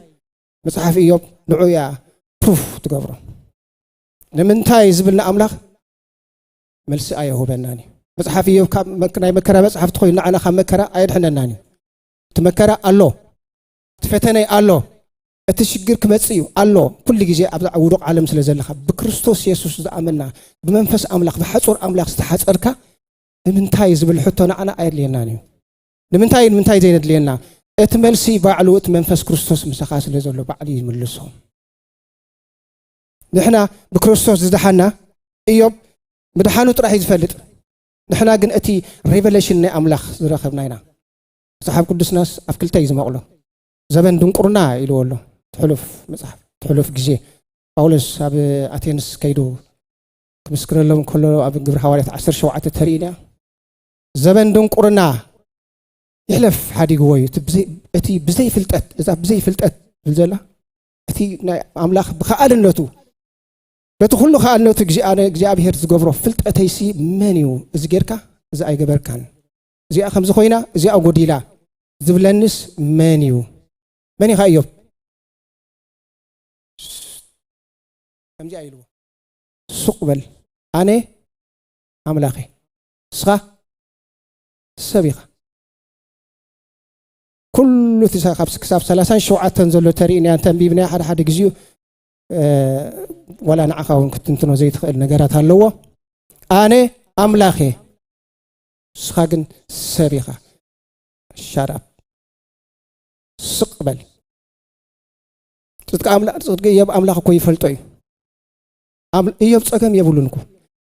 መጽሓፍ ኢዮብ ንዑ እያ ፕሩፍ ትገብሮ ንምንታይ ዝብል ንኣምላኽ መልሲ ኣየሁበናን እዩ መጽሓፍ ኢዮብ ካብ መክ- ናይ መከራ መጽሓፍቲ ኮይኑ ንዓና ካብ መከራ ኣየድሕነናን እዩ እቲ መከራ ኣሎ እቲ ፈተነ ኣሎ እቲ ሽግር ክመጽእ እዩ ኣሎ ኩሉ ግዜ ኣብዛ ውዱቕ ዓለም ስለ ዘለኻ ብክርስቶስ የሱስ ዝኣመና ብመንፈስ ኣምላኽ ብሓጹር ኣምላኽ ዝተሓጸርካ ንምንታይ ዝብል ሕቶ ንዓና ኣየድልየናን እዩ ንምንታይ ንምንታይ ዘይነድልየና እቲ መልሲ ባዕሉ እቲ መንፈስ ክርስቶስ ምሳኻ ስለ ዘሎ ባዕሉ ይምልሶ ንሕና ብክርስቶስ ዝደሓና እዮብ ምድሓኑ ጥራሕ እዩ ዝፈልጥ ንሕና ግን እቲ ሬቨሌሽን ናይ ኣምላኽ ዝረኸብና ኢና መጽሓፍ ቅዱስናስ ኣብ ክልተ እዩ ዝመቕሎ ዘበን ድንቁርና ኢልዎ ኣሎ ትሕሉፍ መጽሓፍ ትሕሉፍ ግዜ ጳውሎስ ኣብ ኣቴንስ ከይዱ ክምስክረሎም ከሎ ኣብ ግብሪ ሃዋርያት 17 ተርእና ዘበን ድንቁርና ይሕለፍ ሓዲግዎ እዩ እቲ ብዘይ ፍልጠት እዛ ብዘይ ፍልጠት ትብል ዘላ እቲ ናይ ኣምላኽ ብከኣልነቱ በቲ ኩሉ ከኣልነቱ እግዚኣብሔር ዝገብሮ ፍልጠተይሲ መን እዩ እዚ ጌርካ እዚ ኣይገበርካን እዚኣ ከምዚ ኮይና እዚኣ ጎዲላ ዝብለንስ መን እዩ? መን ኢኻ እዮብ? ከምዚኣ ኢልዎ ሱቅ በል ኣነ ኣምላኽ እየ ንስኻ ሰብ ኢኻ ኩሉ እቲ ክሳብ ሰላሳን ሸውዓተን ዘሎ ተርእናያ እንተንቢብናያ ሓደ ሓደ ግዜኡ ዋላ ንዓኻ እውን ክትንትኖ ዘይትኽእል ነገራት ኣለዎ ኣነ ኣምላኽ እየ ንስኻ ግን ሰብ ኢኻ ሻራፕ ስቅ በል ጽድቂ ኣምላኽ ጽድቂ እዮብ ኣምላኽ እኮ ይፈልጦ እዩ እዮብ ጸገም የብሉን እኮ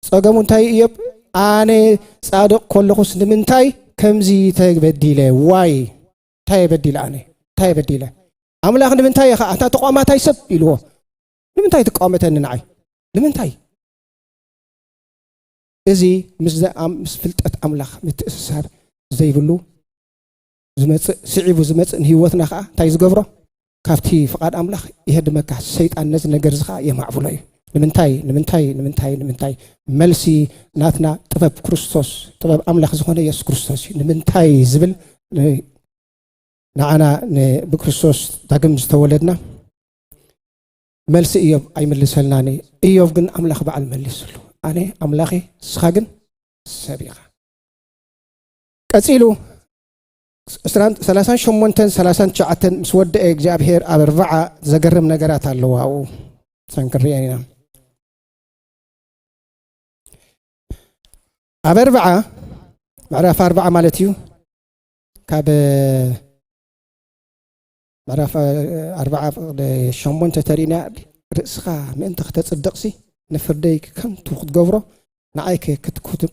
ጸገሙ እንታይ እዮብ ኣነ ጻድቕ ኮለኹስ ንምንታይ ከምዚ ተበዲለ ዋይ እንታይ የበዲለ ኣነ እንታይ የበዲለ ኣምላኽ ንምንታይ ኢኻ ኣታ ተቋማታይ ሰብ ኢልዎ ንምንታይ ትቃወመተኒ ንዓይ ንምንታይ እዚ ምስ ፍልጠት ኣምላኽ ምትእስሳር ዘይብሉ ዝመፅእ ስዒቡ ዝመፅእ ንህይወትና ከዓ እንታይ ዝገብሮ ካብቲ ፍቓድ ኣምላኽ የህድመካ ሰይጣን ነዚ ነገር እዚ ከዓ የማዕብሎ እዩ ንምንታይ ንምንታይ ንምንታይ ንምንታይ መልሲ ናትና ጥበብ ክርስቶስ ጥበብ ኣምላኽ ዝኾነ የሱስ ክርስቶስ እዩ ንምንታይ ዝብል ንዓና ብክርስቶስ ዳግም ዝተወለድና መልሲ እዮብ ኣይምልሰልናን እዩ እዮብ ግን ኣምላኽ በዓል መሊስሉ ኣነ ኣምላኽ እስኻ ግን ሰብ ኢኻ ቀፂሉ 38 39 ምስ ወደአ እግዚኣብሄር ኣብ ኣርባዓ ዘገርም ነገራት ኣለዋ ኣብኡ ሰን ክንሪአን ኢና ኣብ ኣርባዓ ምዕራፍ ኣርባዓ ማለት እዩ ካብ ምዕራፍ ኣርብዓ ፍቕደ ሸሞንተ ተሪእናያ እብ ርእስኻ ምእንቲ ክተጽድቕሲ ንፍርደይ ከንቱ ክትገብሮ ንዓይከ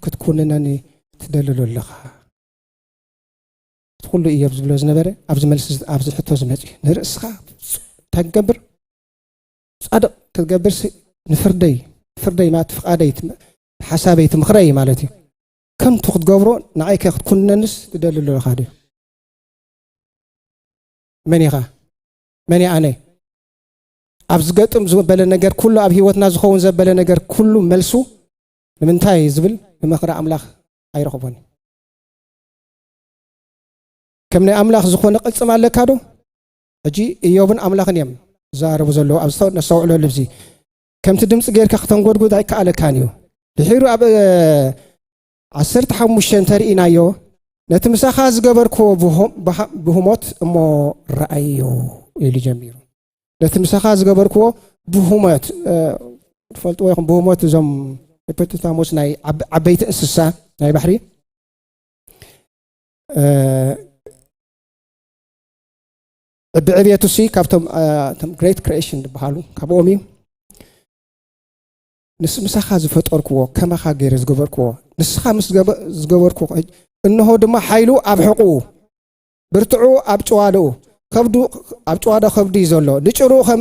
ክትኩንነኒ ትደልሎ ኣለኻ እቲ ኩሉ እዮብ ዝብሎ ዝነበረ ኣብዚ መልሲ ኣብዚ ሕቶ ዝመፅ እዩ ንርእስኻ እንታይ ክገብር ፃድቕ ክትገብርሲ ንፍርደይ ፍርደይ ማለት ፍቃደይ ሓሳበይ ትምኽረይ ማለት እዩ ከንቱ ክትገብሮ ንዓይከ ክትኩንነንስ ትደሊ ኣለኻ ድዩ መን ኢኻ መን እየ ኣነ ኣብ ዝገጥም ዝበለ ነገር ኩሉ ኣብ ህይወትና ዝኸውን ዘበለ ነገር ኩሉ መልሱ ንምንታይ ዝብል ንምኽሪ ኣምላኽ ኣይረኽቦን እዩ ከም ናይ ኣምላኽ ዝኾነ ቅልፅም ኣለካ ዶ ሕጂ እዮብን ኣምላኽን እዮም ዝዛረቡ ዘለዉ ኣብ ነስተውዕለሉ እዚ ከምቲ ድምፂ ጌርካ ክተንጎድጉድ ኣይከኣለካን እዩ ድሒሩ ኣብ ዓሰርተ ሓሙሽተ እንተ ርኢናዮ ነቲ ምሳኻ ዝገበርክዎ ብህሞት እሞ ረኣዮ ኢሉ ጀሚሩ ነቲ ምሳኻ ዝገበርክዎ ብህሞት ትፈልጥዎ ይኹም ብህሞት እዞም ሂፖቶታሞስ ናይ ዓበይቲ እንስሳ ናይ ባሕሪ ብዕብየቱ ሲ ካብቶም ግሬት ክሬሽን ዝበሃሉ ካብኦም እዩ ንስ ምሳኻ ዝፈጠርክዎ ከማኻ ገይረ ዝገበርክዎ ንስኻ ምስ ዝገበርኩ እንሆ ድማ ሓይሉ ኣብ ሕቑኡ ብርትዑ ኣብ ጭዋደኡ ከብዱ ኣብ ጭዋዶ ከብዱ እዩ ዘሎ ንጭርኡ ከም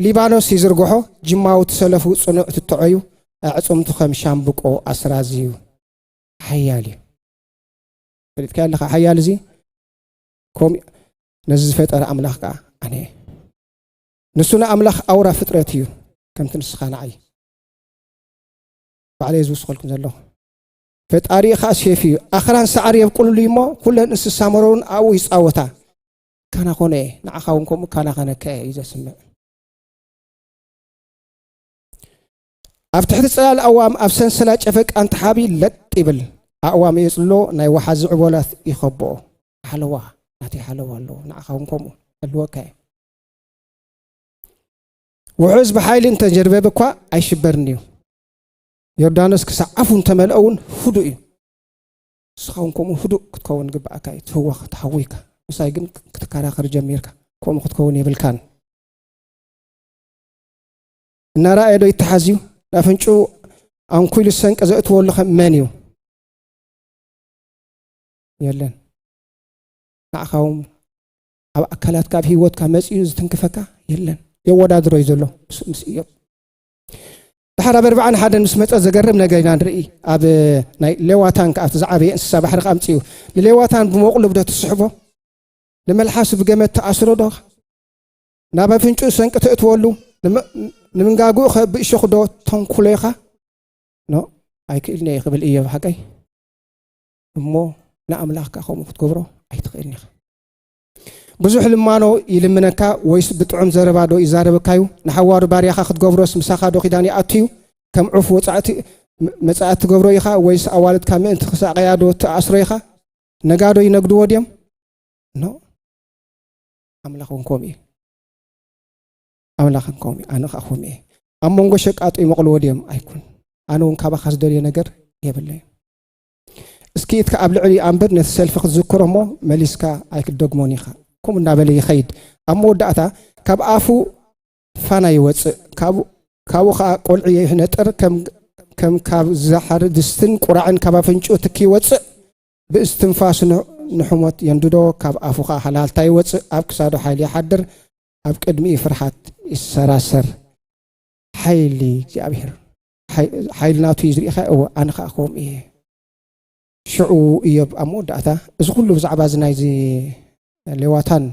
ሊባኖስ ይዝርግሖ ጅማዊ ትሰለፉ ጽኑዕ ትትዖዩ ኣዕጽምቱ ከም ሻምብቆ ኣስራዚ እዩ ሓያል እዩ ፈሊጥካ ኣለካ ሓያል እዚ ከምኡ ነዚ ዝፈጠረ ኣምላኽ ከዓ ኣነ እየ ንሱ ንኣምላኽ ኣውራ ፍጥረት እዩ ከምቲ ንስኻ ንዓይ ባዕለየ ዝውስኸልኩም ዘለኹ ፈጣሪ ኻዓ ሴፍ እዩ ኣኽራን ሰዓር የብቁልሉ እሞ ኩለን እንስሳ መረውን ኣብኡ ይፃወታ ካና ኮነ እየ ንዓኻ እውን ከምኡ ካና ከነካ እየ እዩ ዘስምዕ ኣብ ትሕቲ ፅላል ኣዋም ኣብ ሰንሰላ ጨፈቃ እንትሓቢ ለጥ ይብል ኣእዋም የፅሎ ናይ ወሓዚ ዕቦላት ይኸብኦ ሓለዋ ናተይ ሓለዋ ኣለዎ ንዓኻ እውን ከምኡ ኣለወካ እየ ውሑዝ ብሓይሊ እንተጀርበበ እኳ ኣይሽበርን እዩ ዮርዳኖስ ክሳዕ ኣፉ እንተመልኦ እውን ህዱእ እዩ ንስኻ እውን ከምኡ ህዱእ ክትከውን ግብኣካ እዩ ትህወኽ ተሓዊካ ምሳይ ግን ክትከራኸር ጀሚርካ ከምኡ ክትከውን የብልካን እናረኣየ ዶ ይተሓዝ እዩ ናፍንጩ ኣንኩሉ ሰንቂ ዘእትዎ ኣሎ ከም መን እዩ የለን ንዓኻ እውን ኣብ ኣካላትካ ኣብ ሂወትካ መጺኡ ዝትንክፈካ የለን የወዳድሮ እዩ ዘሎ ምስ እዮብ ድሓር ኣብ ኣርባዓን ሓደን ምስ መፀ ዘገርም ነገር ኢና ንርኢ ኣብ ናይ ሌዋታን ከዓ እቲ ዝዓበየ እንስሳ ባሕሪ ከዓ ምፅኡ ንሌዋታን ብመቑሉብ ዶ ትስሕቦ ንመልሓሱ ብገመት ተኣስሮ ዶ ናብ ኣፍንጭኡ ሰንቂ ተእትወሉ ንምንጋግኡ ከ ብእሸኹ ዶ ተንኩሎ ኢኻ ኖ ኣይክእልን እየ ክብል እዮ ሓቀይ እሞ ንኣምላኽካ ከምኡ ክትገብሮ ኣይትኽእልን ኢኻ ብዙሕ ልማኖ ይልምነካ ወይስ ብጥዑም ዘረባ ዶ ይዛረበካ እዩ? ንሓዋሩ ባርያኻ ክትገብሮስ ምሳኻ ዶ ኪዳን ይኣቱ እዩ? ከም ዑፍ ወጻእቲ መጻእቲ ትገብሮ ኢኻ ወይስ ኣዋልድካ ምእንቲ ክሳቐያ ዶ ትኣስሮ ኢኻ? ነጋዶ ይነግድዎ ድዮም? ኖ ኣምላኽ እውን ከምኡ እዩ። ኣምላኽ ከምኡ እዩ፣ ኣነ ከዓ ከምኡ እየ። ኣብ መንጎ ሸቃጦ ይመቕልዎ ድዮም? ኣይኩን። ኣነ እውን ካባኻ ዝደልዮ ነገር የብለይ። እስኪ እትካ ኣብ ልዕሊ ኣንብር ነቲ ሰልፊ ክትዝክሮ እሞ መሊስካ ኣይክትደግሞን ኢኻ ከምኡ እናበለ ይኸይድ ኣብ መወዳእታ ካብ ኣፉ ፋና ይወፅእ ካብኡ ካብኡ ከዓ ቆልዒ ይህነጥር ከም ካብ ዝሓር ድስትን ቁራዕን ካብ ኣፍንጭኡ ትኪ ይወፅእ ብእስትንፋሱ ንሕሞት የንድዶ ካብ ኣፉ ከዓ ሃላልታ ይወፅእ ኣብ ክሳዶ ሓይሊ ይሓድር ኣብ ቅድሚኡ ፍርሓት ይሰራሰር ሓይሊ እግዚኣብሔር ሓይል ናቱ እዩ ዝርኢኻ እወ ኣነ ከዓ ከምኡ እየ ሽዑ እዮብ ኣብ መወዳእታ እዚ ኩሉ ብዛዕባ እዚ ናይዚ ሌዋታን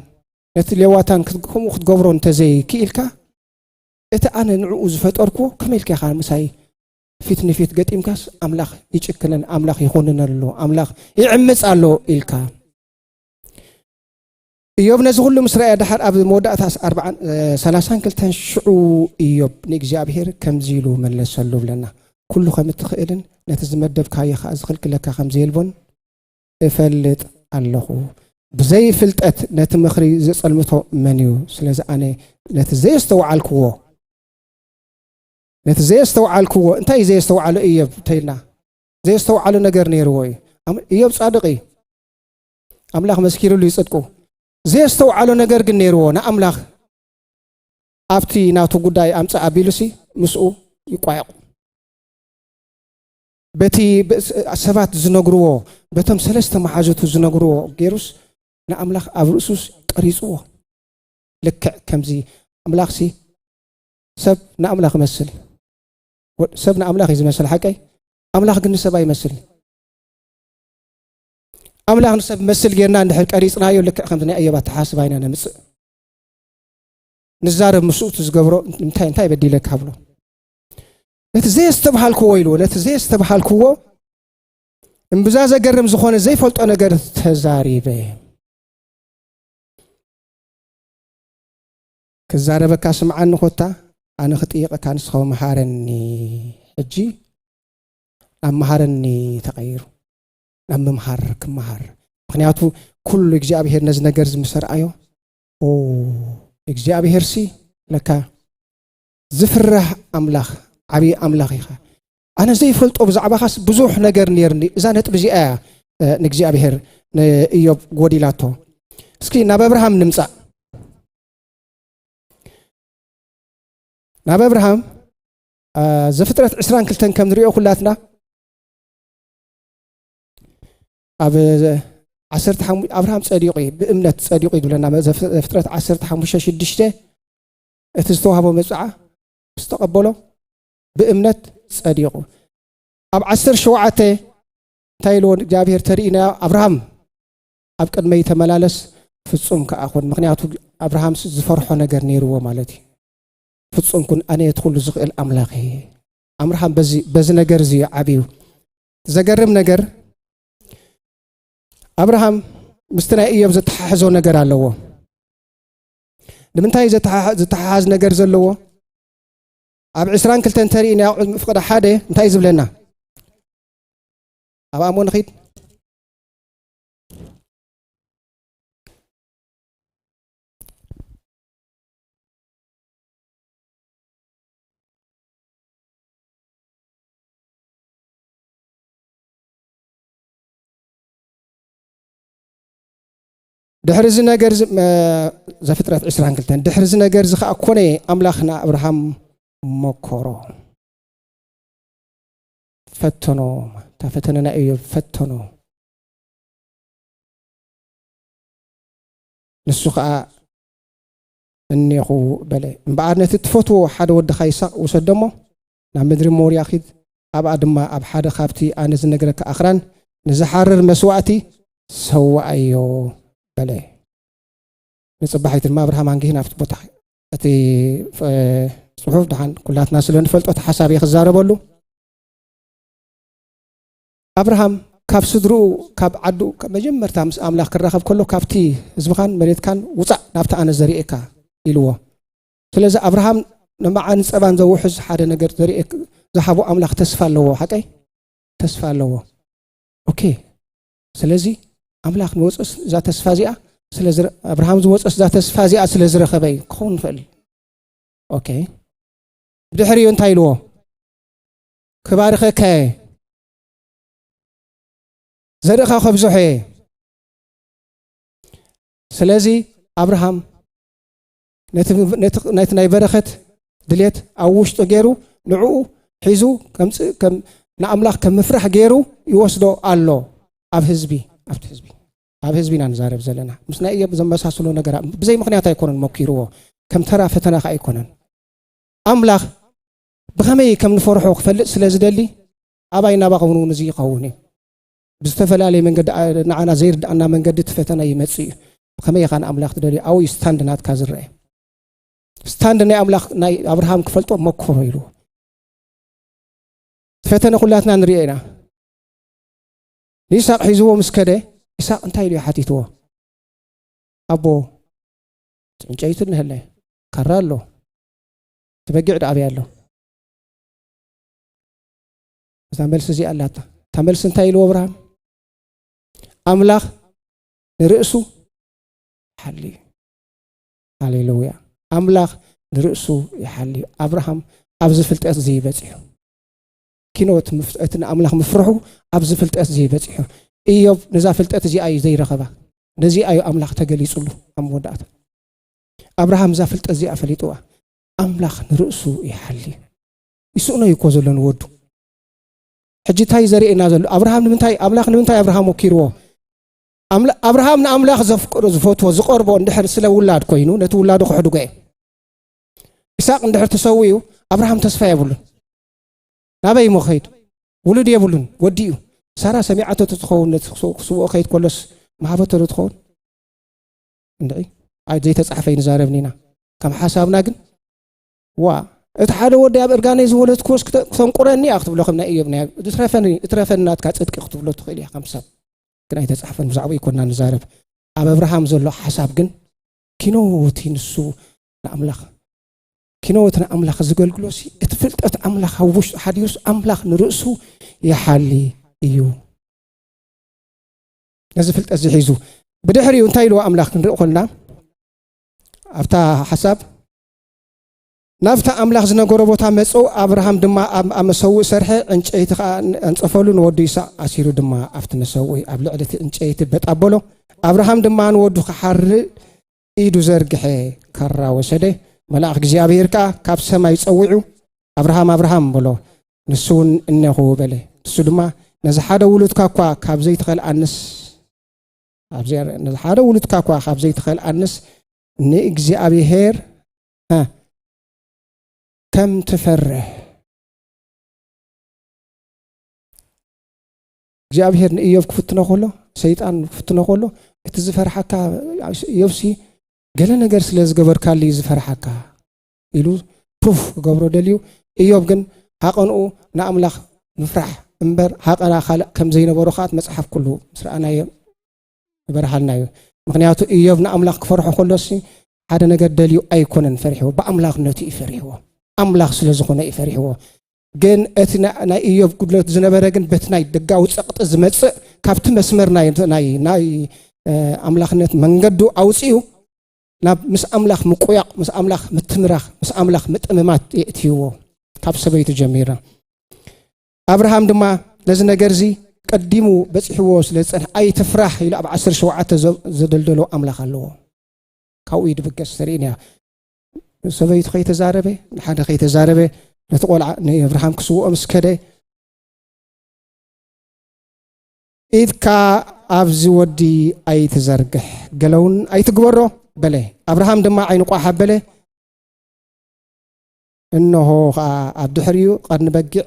ነቲ ሌዋታን ከምኡ ክትገብሮ እንተዘይክኢልካ እቲ ኣነ ንዕኡ ዝፈጠርክዎ ከመይ ኢልካ ኢኻ ምሳይ ፊት ንፊት ገጢምካስ ኣምላኽ ይጭክንን ኣምላኽ ይኹንን ኣሎ ኣምላኽ ይዕምፅ ኣሎ ኢልካ እዮብ ነዚ ኩሉ ምስ ረኣየ ደሓር ኣብ መወዳእታ ሰላሳን ክልተን ሽዑ እዮብ ንእግዚኣብሄር ከምዚ ኢሉ መለሰሉ ብለና ኩሉ ከም እትኽእልን ነቲ ዝመደብካዮ ከኣ ዝኽልክለካ ከም ዘየልቦን እፈልጥ ኣለኹ ብዘይ ፍልጠት ነቲ ምኽሪ ዘጸልምቶ መን እዩ ስለዚ ኣነ ነቲ ዘየስተውዓልክዎ ነቲ ዘየስተውዓልክዎ እንታይ እዩ ዘየስተውዓሎ እዮብ እንተኢልና ዘየስተውዓሎ ነገር ነይርዎ እዩ እዮብ ጻድቕ እዩ ኣምላኽ መስኪርሉ እዩ ጽድቁ። ዘየስተውዓሎ ነገር ግን ነይርዎ ንኣምላኽ ኣብቲ ናቱ ጉዳይ ኣምጽእ ኣቢሉሲ ምስኡ ይቋየቑ በቲ ሰባት ዝነግርዎ በቶም ሰለስተ መሓዙቱ ዝነግርዎ ገይሩስ ንኣምላኽ ኣብ ርእሱስ ቀሪፅዎ ልክዕ ከምዚ ኣምላኽሲ ሰብ ንኣምላኽ ይመስል ሰብ ንኣምላኽ እዩ ዝመስል ሓቀይ ኣምላኽ ግን ንሰብ ኣይመስል ኣምላኽ ንሰብ መስል ጌርና እንድሕር ቀሪጽናዮ ልክዕ ከምዚ ናይ እዮብ ኣተሓስባ ኢና ነምጽእ ንዛረብ ምስኡ እቲ ዝገብሮ እንታይ እንታይ በዲለካ ብሎ ነቲ ዘየስተብሃልክዎ ኢልዎ ነቲ ዘየስተብሃልክዎ እምብዛ ዘገርም ዝኾነ ዘይፈልጦ ነገር ተዛሪበ ክዛረበካ ስምዓኒ ኮታ ኣነ ክጥይቐካ ንስኸው መሃረኒ ሕጂ ኣብ መሃረኒ ተቐይሩ ናብ ምምሃር ክመሃር ምክንያቱ ኩሉ እግዚኣብሄር ነዚ ነገር እዚ ምስ ርኣዮ እግዚኣብሄር ሲ ለካ ዝፍራህ ኣምላኽ ዓብዪ ኣምላኽ ኢኻ ኣነ ዘይፈልጦ ብዛዕባኻስ ብዙሕ ነገር ነርኒ እዛ ነጥቢ እዚኣ እያ ንእግዚኣብሄር ንእዮብ ጎዲላቶ እስኪ ናብ ኣብርሃም ንምፃእ ናብ ኣብርሃም ዘፍጥረት ዕስራን ክልተን ከም ንሪኦ ኩላትና ኣብ ዓሰርተ ሓሙ ኣብርሃም ጸዲቑ እዩ ብእምነት ጸዲቑ እዩ ዝብለና ፍጥረት ዓሰርተ ሓሙሽተ ሽዱሽተ እቲ ዝተዋህቦ መብፅዓ ምስ ተቐበሎ ብእምነት ጸዲቑ ኣብ ዓሰር ሸውዓተ እንታይ ኢልዎ እግዚኣብሄር ተርእናዮ ኣብርሃም ኣብ ቅድመይ ተመላለስ ፍጹም ከዓ ኩን ምክንያቱ ኣብርሃም ዝፈርሖ ነገር ነይርዎ ማለት እዩ ፍጹም ኩን ኣነ እቲ ኩሉ ዝኽእል ኣምላኽ እየ ኣምርሃም በዚ ነገር እዚ ዓብዩ ዘገርም ነገር ኣብርሃም ምስቲ ናይ እዮብ ዘተሓሕዞ ነገር ኣለዎ ንምንታይ ዝተሓሓዝ ነገር ዘለዎ ኣብ ዕስራን ክልተን ተርኢ ናይ ኣቑሑት ምፍቅዳ ሓደ እንታይ እዩ ዝብለና ኣብ ኣሞ ንኺድ ድሕሪ እዚ ነገር ዘፍጥረት 22 ድሕሪ እዚ ነገር እዚ ከዓ ኮነ ኣምላኽ ንኣብርሃም መኮሮ ፈተኖ እታ ፈተነ ናይ እዮ ፈተኖ ንሱ ከዓ እኔኹ በለ። እምበኣር ነቲ እትፈትዎ ሓደ ወድኻ ይስሃቅ ውሰዶ እሞ፣ ናብ ምድሪ ሞርያ ኺድ፣ ኣብኣ ድማ ኣብ ሓደ ኻብቲ ኣነ ዝነግረካ ኣኽራን ንዚሓርር መስዋእቲ ሰውኣዮ በለ። ንጽባሒቱ ድማ ኣብርሃም ኣንጊሁ ናብቲ ቦታ ኸይደ። እቲ ጽሑፍ ደሓን ኩላትና ስለ ንፈልጦ እቲ ሓሳብ እየ ክዛረበሉ። ኣብርሃም ካብ ስድርኡ ካብ ዓዱ መጀመርታ ምስ ኣምላኽ ክራኸብ ከሎ ካብቲ ህዝብኻን መሬትካን ውፃእ ናብቲ ኣነ ዘርእየካ ኢልዎ ስለዚ ኣብርሃም ንመዓን ፀባን ዘውሕዝ ሓደ ነገር ዘርእየ ዝሃቦ ኣምላኽ ተስፋ ኣለዎ ሓቀይ ተስፋ ኣለዎ ኦኬ ስለዚ ኣምላኽ ንወፅስ እዛ ተስፋ እዚኣ ኣብርሃም ዝወፅስ እዛ ተስፋ እዚኣ ስለ ዝረኸበ እዩ ክኸውን ንኽእል እዩ ኦኬ ብድሕሪኡ እንታይ ኢልዎ ክባርኸካ እየ፣ ዘርእኻ ከብዝሖ እየ። ስለዚ ኣብርሃም ነቲ ናይ በረኸት ድሌት ኣብ ውሽጡ ገይሩ ንዕኡ ሒዙ ንኣምላኽ ከም ምፍራሕ ገይሩ ይወስዶ ኣሎ ኣብ ህዝቢ ኣብቲ ህዝቢ ኣብ ህዝቢ ኢና ንዛረብ ዘለና ምስ ናይ እዮብ ዘመሳስሎ ነገር ብዘይ ምክንያት ኣይኮነን መኪርዎ ከም ተራ ፈተና ከዓ ኣይኮነን ኣምላኽ ብኸመይ ከም ንፈርሖ ክፈልጥ ስለ ዝደሊ ኣባይ ናባኸውን እውን እዚ ይኸውን እዩ ብዝተፈላለየ መንገዲ ንዓና ዘይርድኣና መንገዲ እቲ ፈተና ይመፅእ እዩ ብከመይ ኢኻ ንኣምላኽ ትደልዩ ኣብኡ እዩ ስታንድ ናትካ ዝረአ ስታንድ ናይ ኣምላኽ ናይ ኣብርሃም ክፈልጦ መኮሮ ኢልዎ ፈተነ ኩላትና ንሪኦ ኢና ንይስቅ ሒዝዎ ምስ ከደ ይስቅ እንታይ ኢሉ ሓቲትዎ ኣቦ ዕንጨይቱ ንህለ ካራ ኣሎ እቲ በጊዕ ድኣ ኣበይ ኣሎ? እዛ መልሲ እዚኣ ኣላታ። እታ መልሲ እንታይ ኢልዎ ኣብርሃም? ኣምላኽ ንርእሱ ይሓሊ እዩ። ሃሌሉያ! ኣምላኽ ንርእሱ ይሓሊ እዩ። ኣብርሃም ኣብዚ ፍልጠት እዚ በፂሑ ኪኖ እቲ ንኣምላኽ ምፍርሑ ኣብዚ ፍልጠት እዚ በፂሑ እዮብ ነዛ ፍልጠት እዚኣ እዩ ዘይረኸባ ነዚኣ እዩ ኣምላኽ ተገሊፁሉ ኣብ መወዳእታ ኣብርሃም እዛ ፍልጠት እዚኣ ፈሊጥዋ ኣምላኽ ንርእሱ ይሓሊ ይስእኖ እዩ እኮ ዘሎ ንወዱ ሕጂ እንታይ ዘርእየና ዘሎ ኣብርሃም ንምንታይ ኣምላኽ ንምንታይ ኣብርሃም ወኪርዎ ኣብርሃም ንኣምላኽ ዘፍቅዶ ዝፈትዎ ዝቐርቦ እንድሕር ስለ ውላድ ኮይኑ ነቲ ውላዱ ክሕድጎ እዩ ኢሳቅ እንድሕር ተሰው እዩ ኣብርሃም ተስፋ የብሉን ናበይ እሞ ከይድ ውሉድ የብሉን ወዲ እዩ ሳራ ሰሚዓቶ ትኸውን ክስውኦ ከይድ ኮሎስ መሃበቶ ዶ ትኸውን እንድዒ ኣይ ዘይተጻሕፈ ይንዛረብ ኒና ከም ሓሳብና ግን ዋ እቲ ሓደ ወዲ ኣብ እርጋነይ ዝወለድክዎስ ክተንቁረኒ እያ ክትብሎ ከም ናይ እዮብ ናይ ዝትረፈኒ እትረፈኒ ናትካ ጽድቂ ክትብሎ ትኽእል እያ ከም ሰብ ግን ኣይተጻሕፈን ብዛዕባ ይኮና ንዛረብ ኣብ ኣብርሃም ዘሎ ሓሳብ ግን ኪኖቲ ንሱ ንኣምላኽ ኪኖቲ ንኣምላኽ ዝገልግሎሲ እቲ ፍልጠት ኣምላኽ ኣብ ውሽጡ ሓዲሩስ ኣምላኽ ንርእሱ ይሓሊ እዩ ነዚ ፍልጠት እዚ ሒዙ ብድሕሪኡ እንታይ ኢልዎ ኣምላኽ ክንርኢ ኮልና ኣብታ ሓሳብ ናብታ ኣምላኽ ዝነገሮ ቦታ መፁ ኣብርሃም ድማ ኣብ መሰውእ ሰርሐ ዕንጨይቲ ከዓ ኣንፀፈሉ ንወዱ ይስቅ ኣሲሩ ድማ ኣብቲ መሰውእ ኣብ ልዕሊ እቲ ዕንጨይቲ በጣበሎ ኣብርሃም ድማ ንወዱ ክሓርድ ኢዱ ዘርግሐ ካራ ወሰደ። መልኣኽ እግዚኣብሔር ከዓ ካብ ሰማይ ጸዊዑ ኣብርሃም ኣብርሃም በሎ። ንሱ እውን እነኹ በለ። ንሱ ድማ ነዚ ሓደ ውሉድካ እኳ ካብ ዘይትኸልኣንስ ነዚ ሓደ ውሉድካ እኳ ካብ ዘይትኸልኣንስ ንእግዚኣብሔር ከም ትፈርህ እግዚኣብሄር ንእዮብ ክፍትኖ ከሎ ሰይጣን ክፍትኖ ከሎ እቲ ዝፈርሓካ እዮብሲ ገለ ነገር ስለ ዝገበርካሉ እዩ ዝፈርሓካ ኢሉ ፕሩፍ ክገብሮ ደልዩ እዮብ ግን ሃቐንኡ ንኣምላኽ ምፍራሕ እምበር ሃቐና ካልእ ከም ዘይነበሮ ከዓ መፅሓፍ ኩሉ ምስ ረኣናዮ ይበርሃልና እዩ ምክንያቱ እዮብ ንኣምላኽ ክፈርሖ ከሎሲ ሓደ ነገር ደልዩ ኣይኮነን ፈሪሕዎ ብኣምላኽነቱ እዩ ፈሪሕዎ ኣምላኽ ስለ ዝኾነ እዩ ፈሪሕዎ ግን እቲ ናይ እዮብ ጉድለት ዝነበረ ግን በቲ ናይ ደጋዊ ጸቕጢ ዝመጽእ ካብቲ መስመር ናይ ኣምላኽነት መንገዱ ኣውፅኡ ናብ ምስ ኣምላኽ ምቁያቕ ምስ ኣምላኽ ምትምራኽ ምስ ኣምላኽ ምጥምማት የእትይዎ ካብ ሰበይቱ ጀሚራ ኣብርሃም ድማ ነዚ ነገር እዚ ቀዲሙ በፂሕዎ ስለ ዝፀንሐ ኣይትፍራሕ ኢሉ ኣብ ዓሰርተ ሸውዓተ ዘደልደሎ ኣምላኽ ኣለዎ ካብኡ ይድብገስ ተርእን እያ ሰበይቱ ከይተዛረበ ንሓደ ከይተዛረበ ነቲ ቆልዓ ንኣብርሃም ክስውኦ ምስ ከደ ኢድካ ኣብዚ ወዲ ኣይትዘርግሕ ገለውን ኣይትግበሮ በለ ኣብርሃም ድማ ዓይኑ ቋሕ ኣበለ እነሆ ከዓ ኣብ ድሕሪኡ ቀርኒ በጊዕ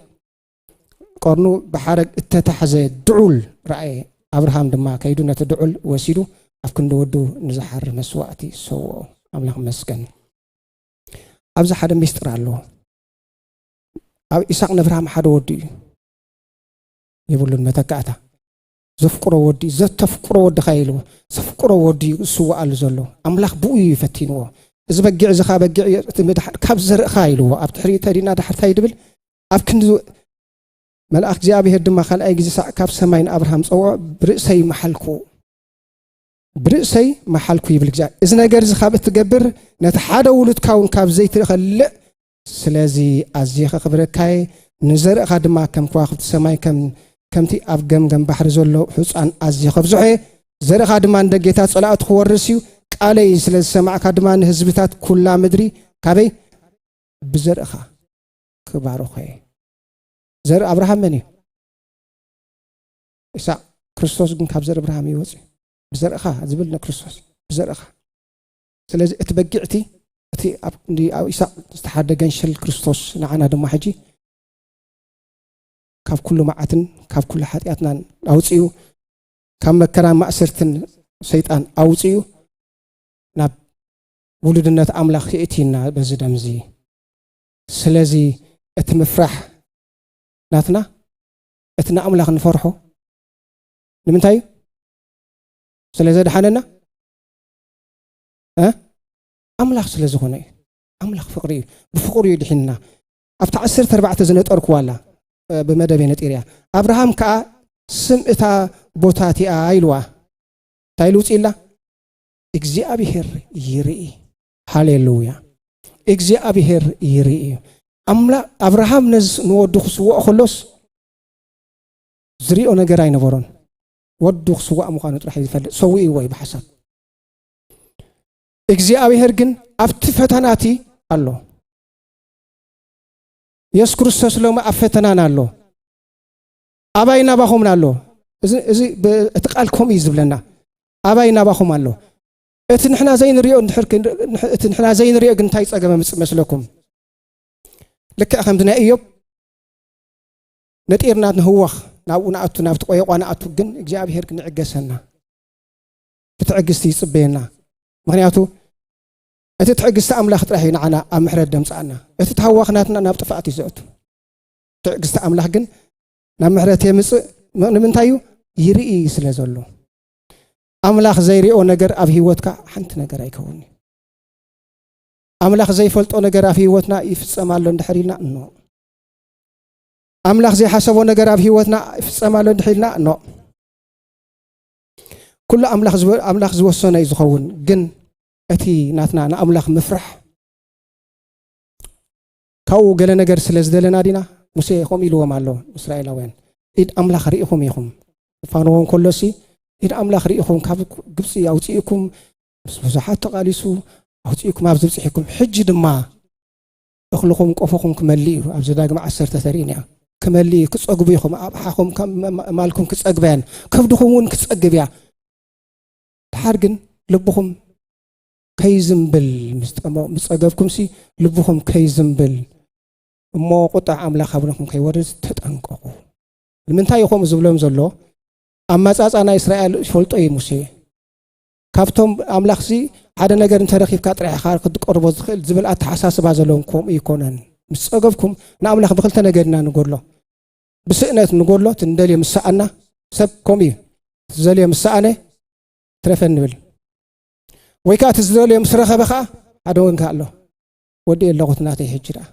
ቀርኑ ብሓረግ እተታሕዘ ድዑል ረኣየ። ኣብርሃም ድማ ከይዱ ነቲ ድዑል ወሲዱ ኣብ ክንዲ ወዱ ንዝሓሪ መስዋእቲ ሰውኦ። ኣምላኽ መስገን። ኣብዚ ሓደ ሚስጥር ኣሎ። ኣብ ኢሳቅ ነብርሃም ሓደ ወዲ እዩ የብሉን መተካእታ ዘፍቅሮ ወዲ ዘተፍቅሮ ወድኻ ኢሉ ዘፍቅሮ ወዲ እዩ ዝስዋኣሉ ዘሎ ኣምላኽ ብኡ እዩ ፈቲንዎ እዚ በጊዕ እዚ ካ በጊዕ እዩ እቲ ምድሓር ካብ ዘርእኻ ኢልዎ ኣብ ትሕሪ ተዲና ዳሕርታይ ድብል ኣብ ክንዲ መልኣኽ እግዚኣብሔር ድማ ካልኣይ ግዜ ሳዕ ካብ ሰማይ ንኣብርሃም ጸውዖ ብርእሰይ መሓልኩ ብርእሰይ መሓልኩ ይብል እግዚኣብሔር እዚ ነገር እዚ ካብ እትገብር ነቲ ሓደ ውሉድካ እውን ካብ ዘይትኸልእ ስለዚ ኣዝየ ከኽብረካየ ንዘርእኻ ድማ ከም ከዋኽብቲ ሰማይ ከምቲ ኣብ ገምገም ባሕሪ ዘሎ ሕፃን ኣዝየ ከብዝሖ እየ ዘርእኻ ድማ እንደ ጌታ ጸላእቱ ክወርስ እዩ ቃለይ ስለ ዝሰማዕካ ድማ ንህዝብታት ኩላ ምድሪ ካበይ ብዘርእኻ ክባርኾ እየ። ዘርኢ ኣብርሃም መን እዩ? ኢሳቅ። ክርስቶስ ግን ካብ ዘርኢ ኣብርሃም ይወፅ እዩ። ብዘርእኻ ዝብል ንክርስቶስ ብዘርእኻ። ስለዚ እቲ በጊዕቲ እቲ ኣብ ኢሳቅ ዝተሓደ ገንሽል ክርስቶስ ንዓና ድማ ሕጂ ካብ ኩሉ መዓትን ካብ ኩሉ ሓጢኣትናን ኣውፅኡ ካብ መከራ ማእሰርትን ሰይጣን ኣውፅኡ ናብ ውሉድነት ኣምላኽ የእትዩና በዚ ደምዚ ስለዚ እቲ ምፍራሕ ናትና እቲ ንኣምላኽ ንፈርሖ ንምንታይ እዩ ስለ ዘድሓነና ኣምላኽ ስለ ዝኾነ እዩ ኣምላኽ ፍቕሪ እዩ ብፍቕሪ እዩ ድሒንና ኣብቲ ዓሰርተ ኣርባዕተ ዝነጠርክዋ ኣላ ብመደብ እየ ነጢር እያ ኣብርሃም ከዓ ስም እታ ቦታ እቲኣ ኢልዋ እንታይ ኢሉ ውፅኢላ እግዚኣብሄር ይርኢ ሃሌሉያ እግዚኣብሄር ይርኢ እዩ ኣምላ ኣብርሃም ነዚ ንወዱ ክስውኦ ከሎስ ዝሪኦ ነገር ኣይነበሮን ወዱ ክስዋእ ምዃኑ ጥራሕ እዩ ዝፈልጥ ሰዊእዎ እዩ ብሓሳብ እግዚኣብሄር ግን ኣብቲ ፈተና እቲ ኣሎ የሱስ ክርስቶስ ሎሚ ኣብ ፈተናና ኣሎ ኣባይ ናባኹምን ኣሎ እዚ እቲ ቃል ከምኡ እዩ ዝብለና ኣባይ ናባኹም ኣሎ እቲ ንሕና ዘይንሪኦ እቲ ንሕና ዘይንሪኦ ግን እንታይ ጸገም ምጽእ መስለኩም? ልክዕ ከምዚ ናይ እዮብ ነጢርና ንህወኽ ናብኡ ንኣቱ ናብቲ ቆየቋ ንኣቱ ግን እግዚኣብሄር ግን ይዕገሰና ብትዕግስቲ ይጽበየና ምክንያቱ እቲ ትዕግስቲ ኣምላኽ ጥራሕ እዩ ንዓና ኣብ ምሕረት ደምጻኣና እቲ ተሃዋኽናትና ናብ ጥፋኣት እዩ ዘእቱ ትዕግስቲ ኣምላኽ ግን ናብ ምሕረት የምጽእ ንምንታይ እዩ ይርኢ ስለ ዘሎ ኣምላኽ ዘይሪኦ ነገር ኣብ ህይወትካ ሓንቲ ነገር ኣይከውን እዩ ኣምላኽ ዘይፈልጦ ነገር ኣብ ህይወትና ይፍጸም ኣሎ እንድሕር ኢልና እኖ ኣምላኽ ዘይሓሰቦ ነገር ኣብ ህይወትና ይፍጸም ኣሎ እንድሕር ኢልና እኖ ኩሉ ኣምላኽ ዝወሰኖ እዩ ዝኸውን ግን እቲ ናትና ንኣምላኽ ምፍራሕ ካብኡ ገለ ነገር ስለ ዝደለና ዲና? ሙሴ ከምኡ ኢልዎም ኣሎ ንእስራኤላውያን፣ ኢድ ኣምላኽ ርኢኹም ኢኹም። ክፋንዎ እንከሎሲ ኢድ ኣምላኽ ርኢኹም ካብ ግብፂ ኣውፅእኩም ምስ ብዙሓት ተቓሊሱ ኣውፅእኩም ኣብ ዝብፅሒኩም ሕጂ ድማ እኽልኹም ቆፎኹም ክመልእ እዩ ኣብ ዘዳግም ዓሰርተ ተርእን እያ ክመልእ እዩ ክፀግቡ ኢኹም ኣብሓኹም ማልኩም ክፀግባ እያን ከብድኹም እውን ክፀግብ እያ ድሓር ግን ልብኹም ከይዝምብል ምስ ጠመቕ ምስ ጸገብኩምሲ ልብኹም ከይዝምብል እሞ ቁጣዕ ኣምላኽ ኣብነኹም ከይወርድ ተጠንቀቑ። ንምንታይ እዩ ከምኡ ዝብሎም ዘሎ? ኣመጻጻ ናይ እስራኤል ይፈልጦ እዩ ሙሴ። ካብቶም ኣምላኽሲ ሓደ ነገር እንተረኺብካ ጥራሕ ኢኻ ክትቀርቦ ዝኽእል ዝብል ኣተሓሳስባ ዘለዎም ከምኡ ይኮነን። ምስ ጸገብኩም ንኣምላኽ ብክልተ ነገር ኢና ንጎድሎ። ብስእነት ንጎድሎ እቲ ንደልዮ ምስ ሰኣና ሰብ ከምኡ እዩ። እቲ ዝደልዮ ምስ ሰኣነ ትረፈ ንብል። ወይ ከዓ እቲ ዝደልዮ ምስ ረኸበ ከዓ ሓደ ወንካ ኣሎ ወዲ ኣለኹት ናተይ ሕጂ ደኣ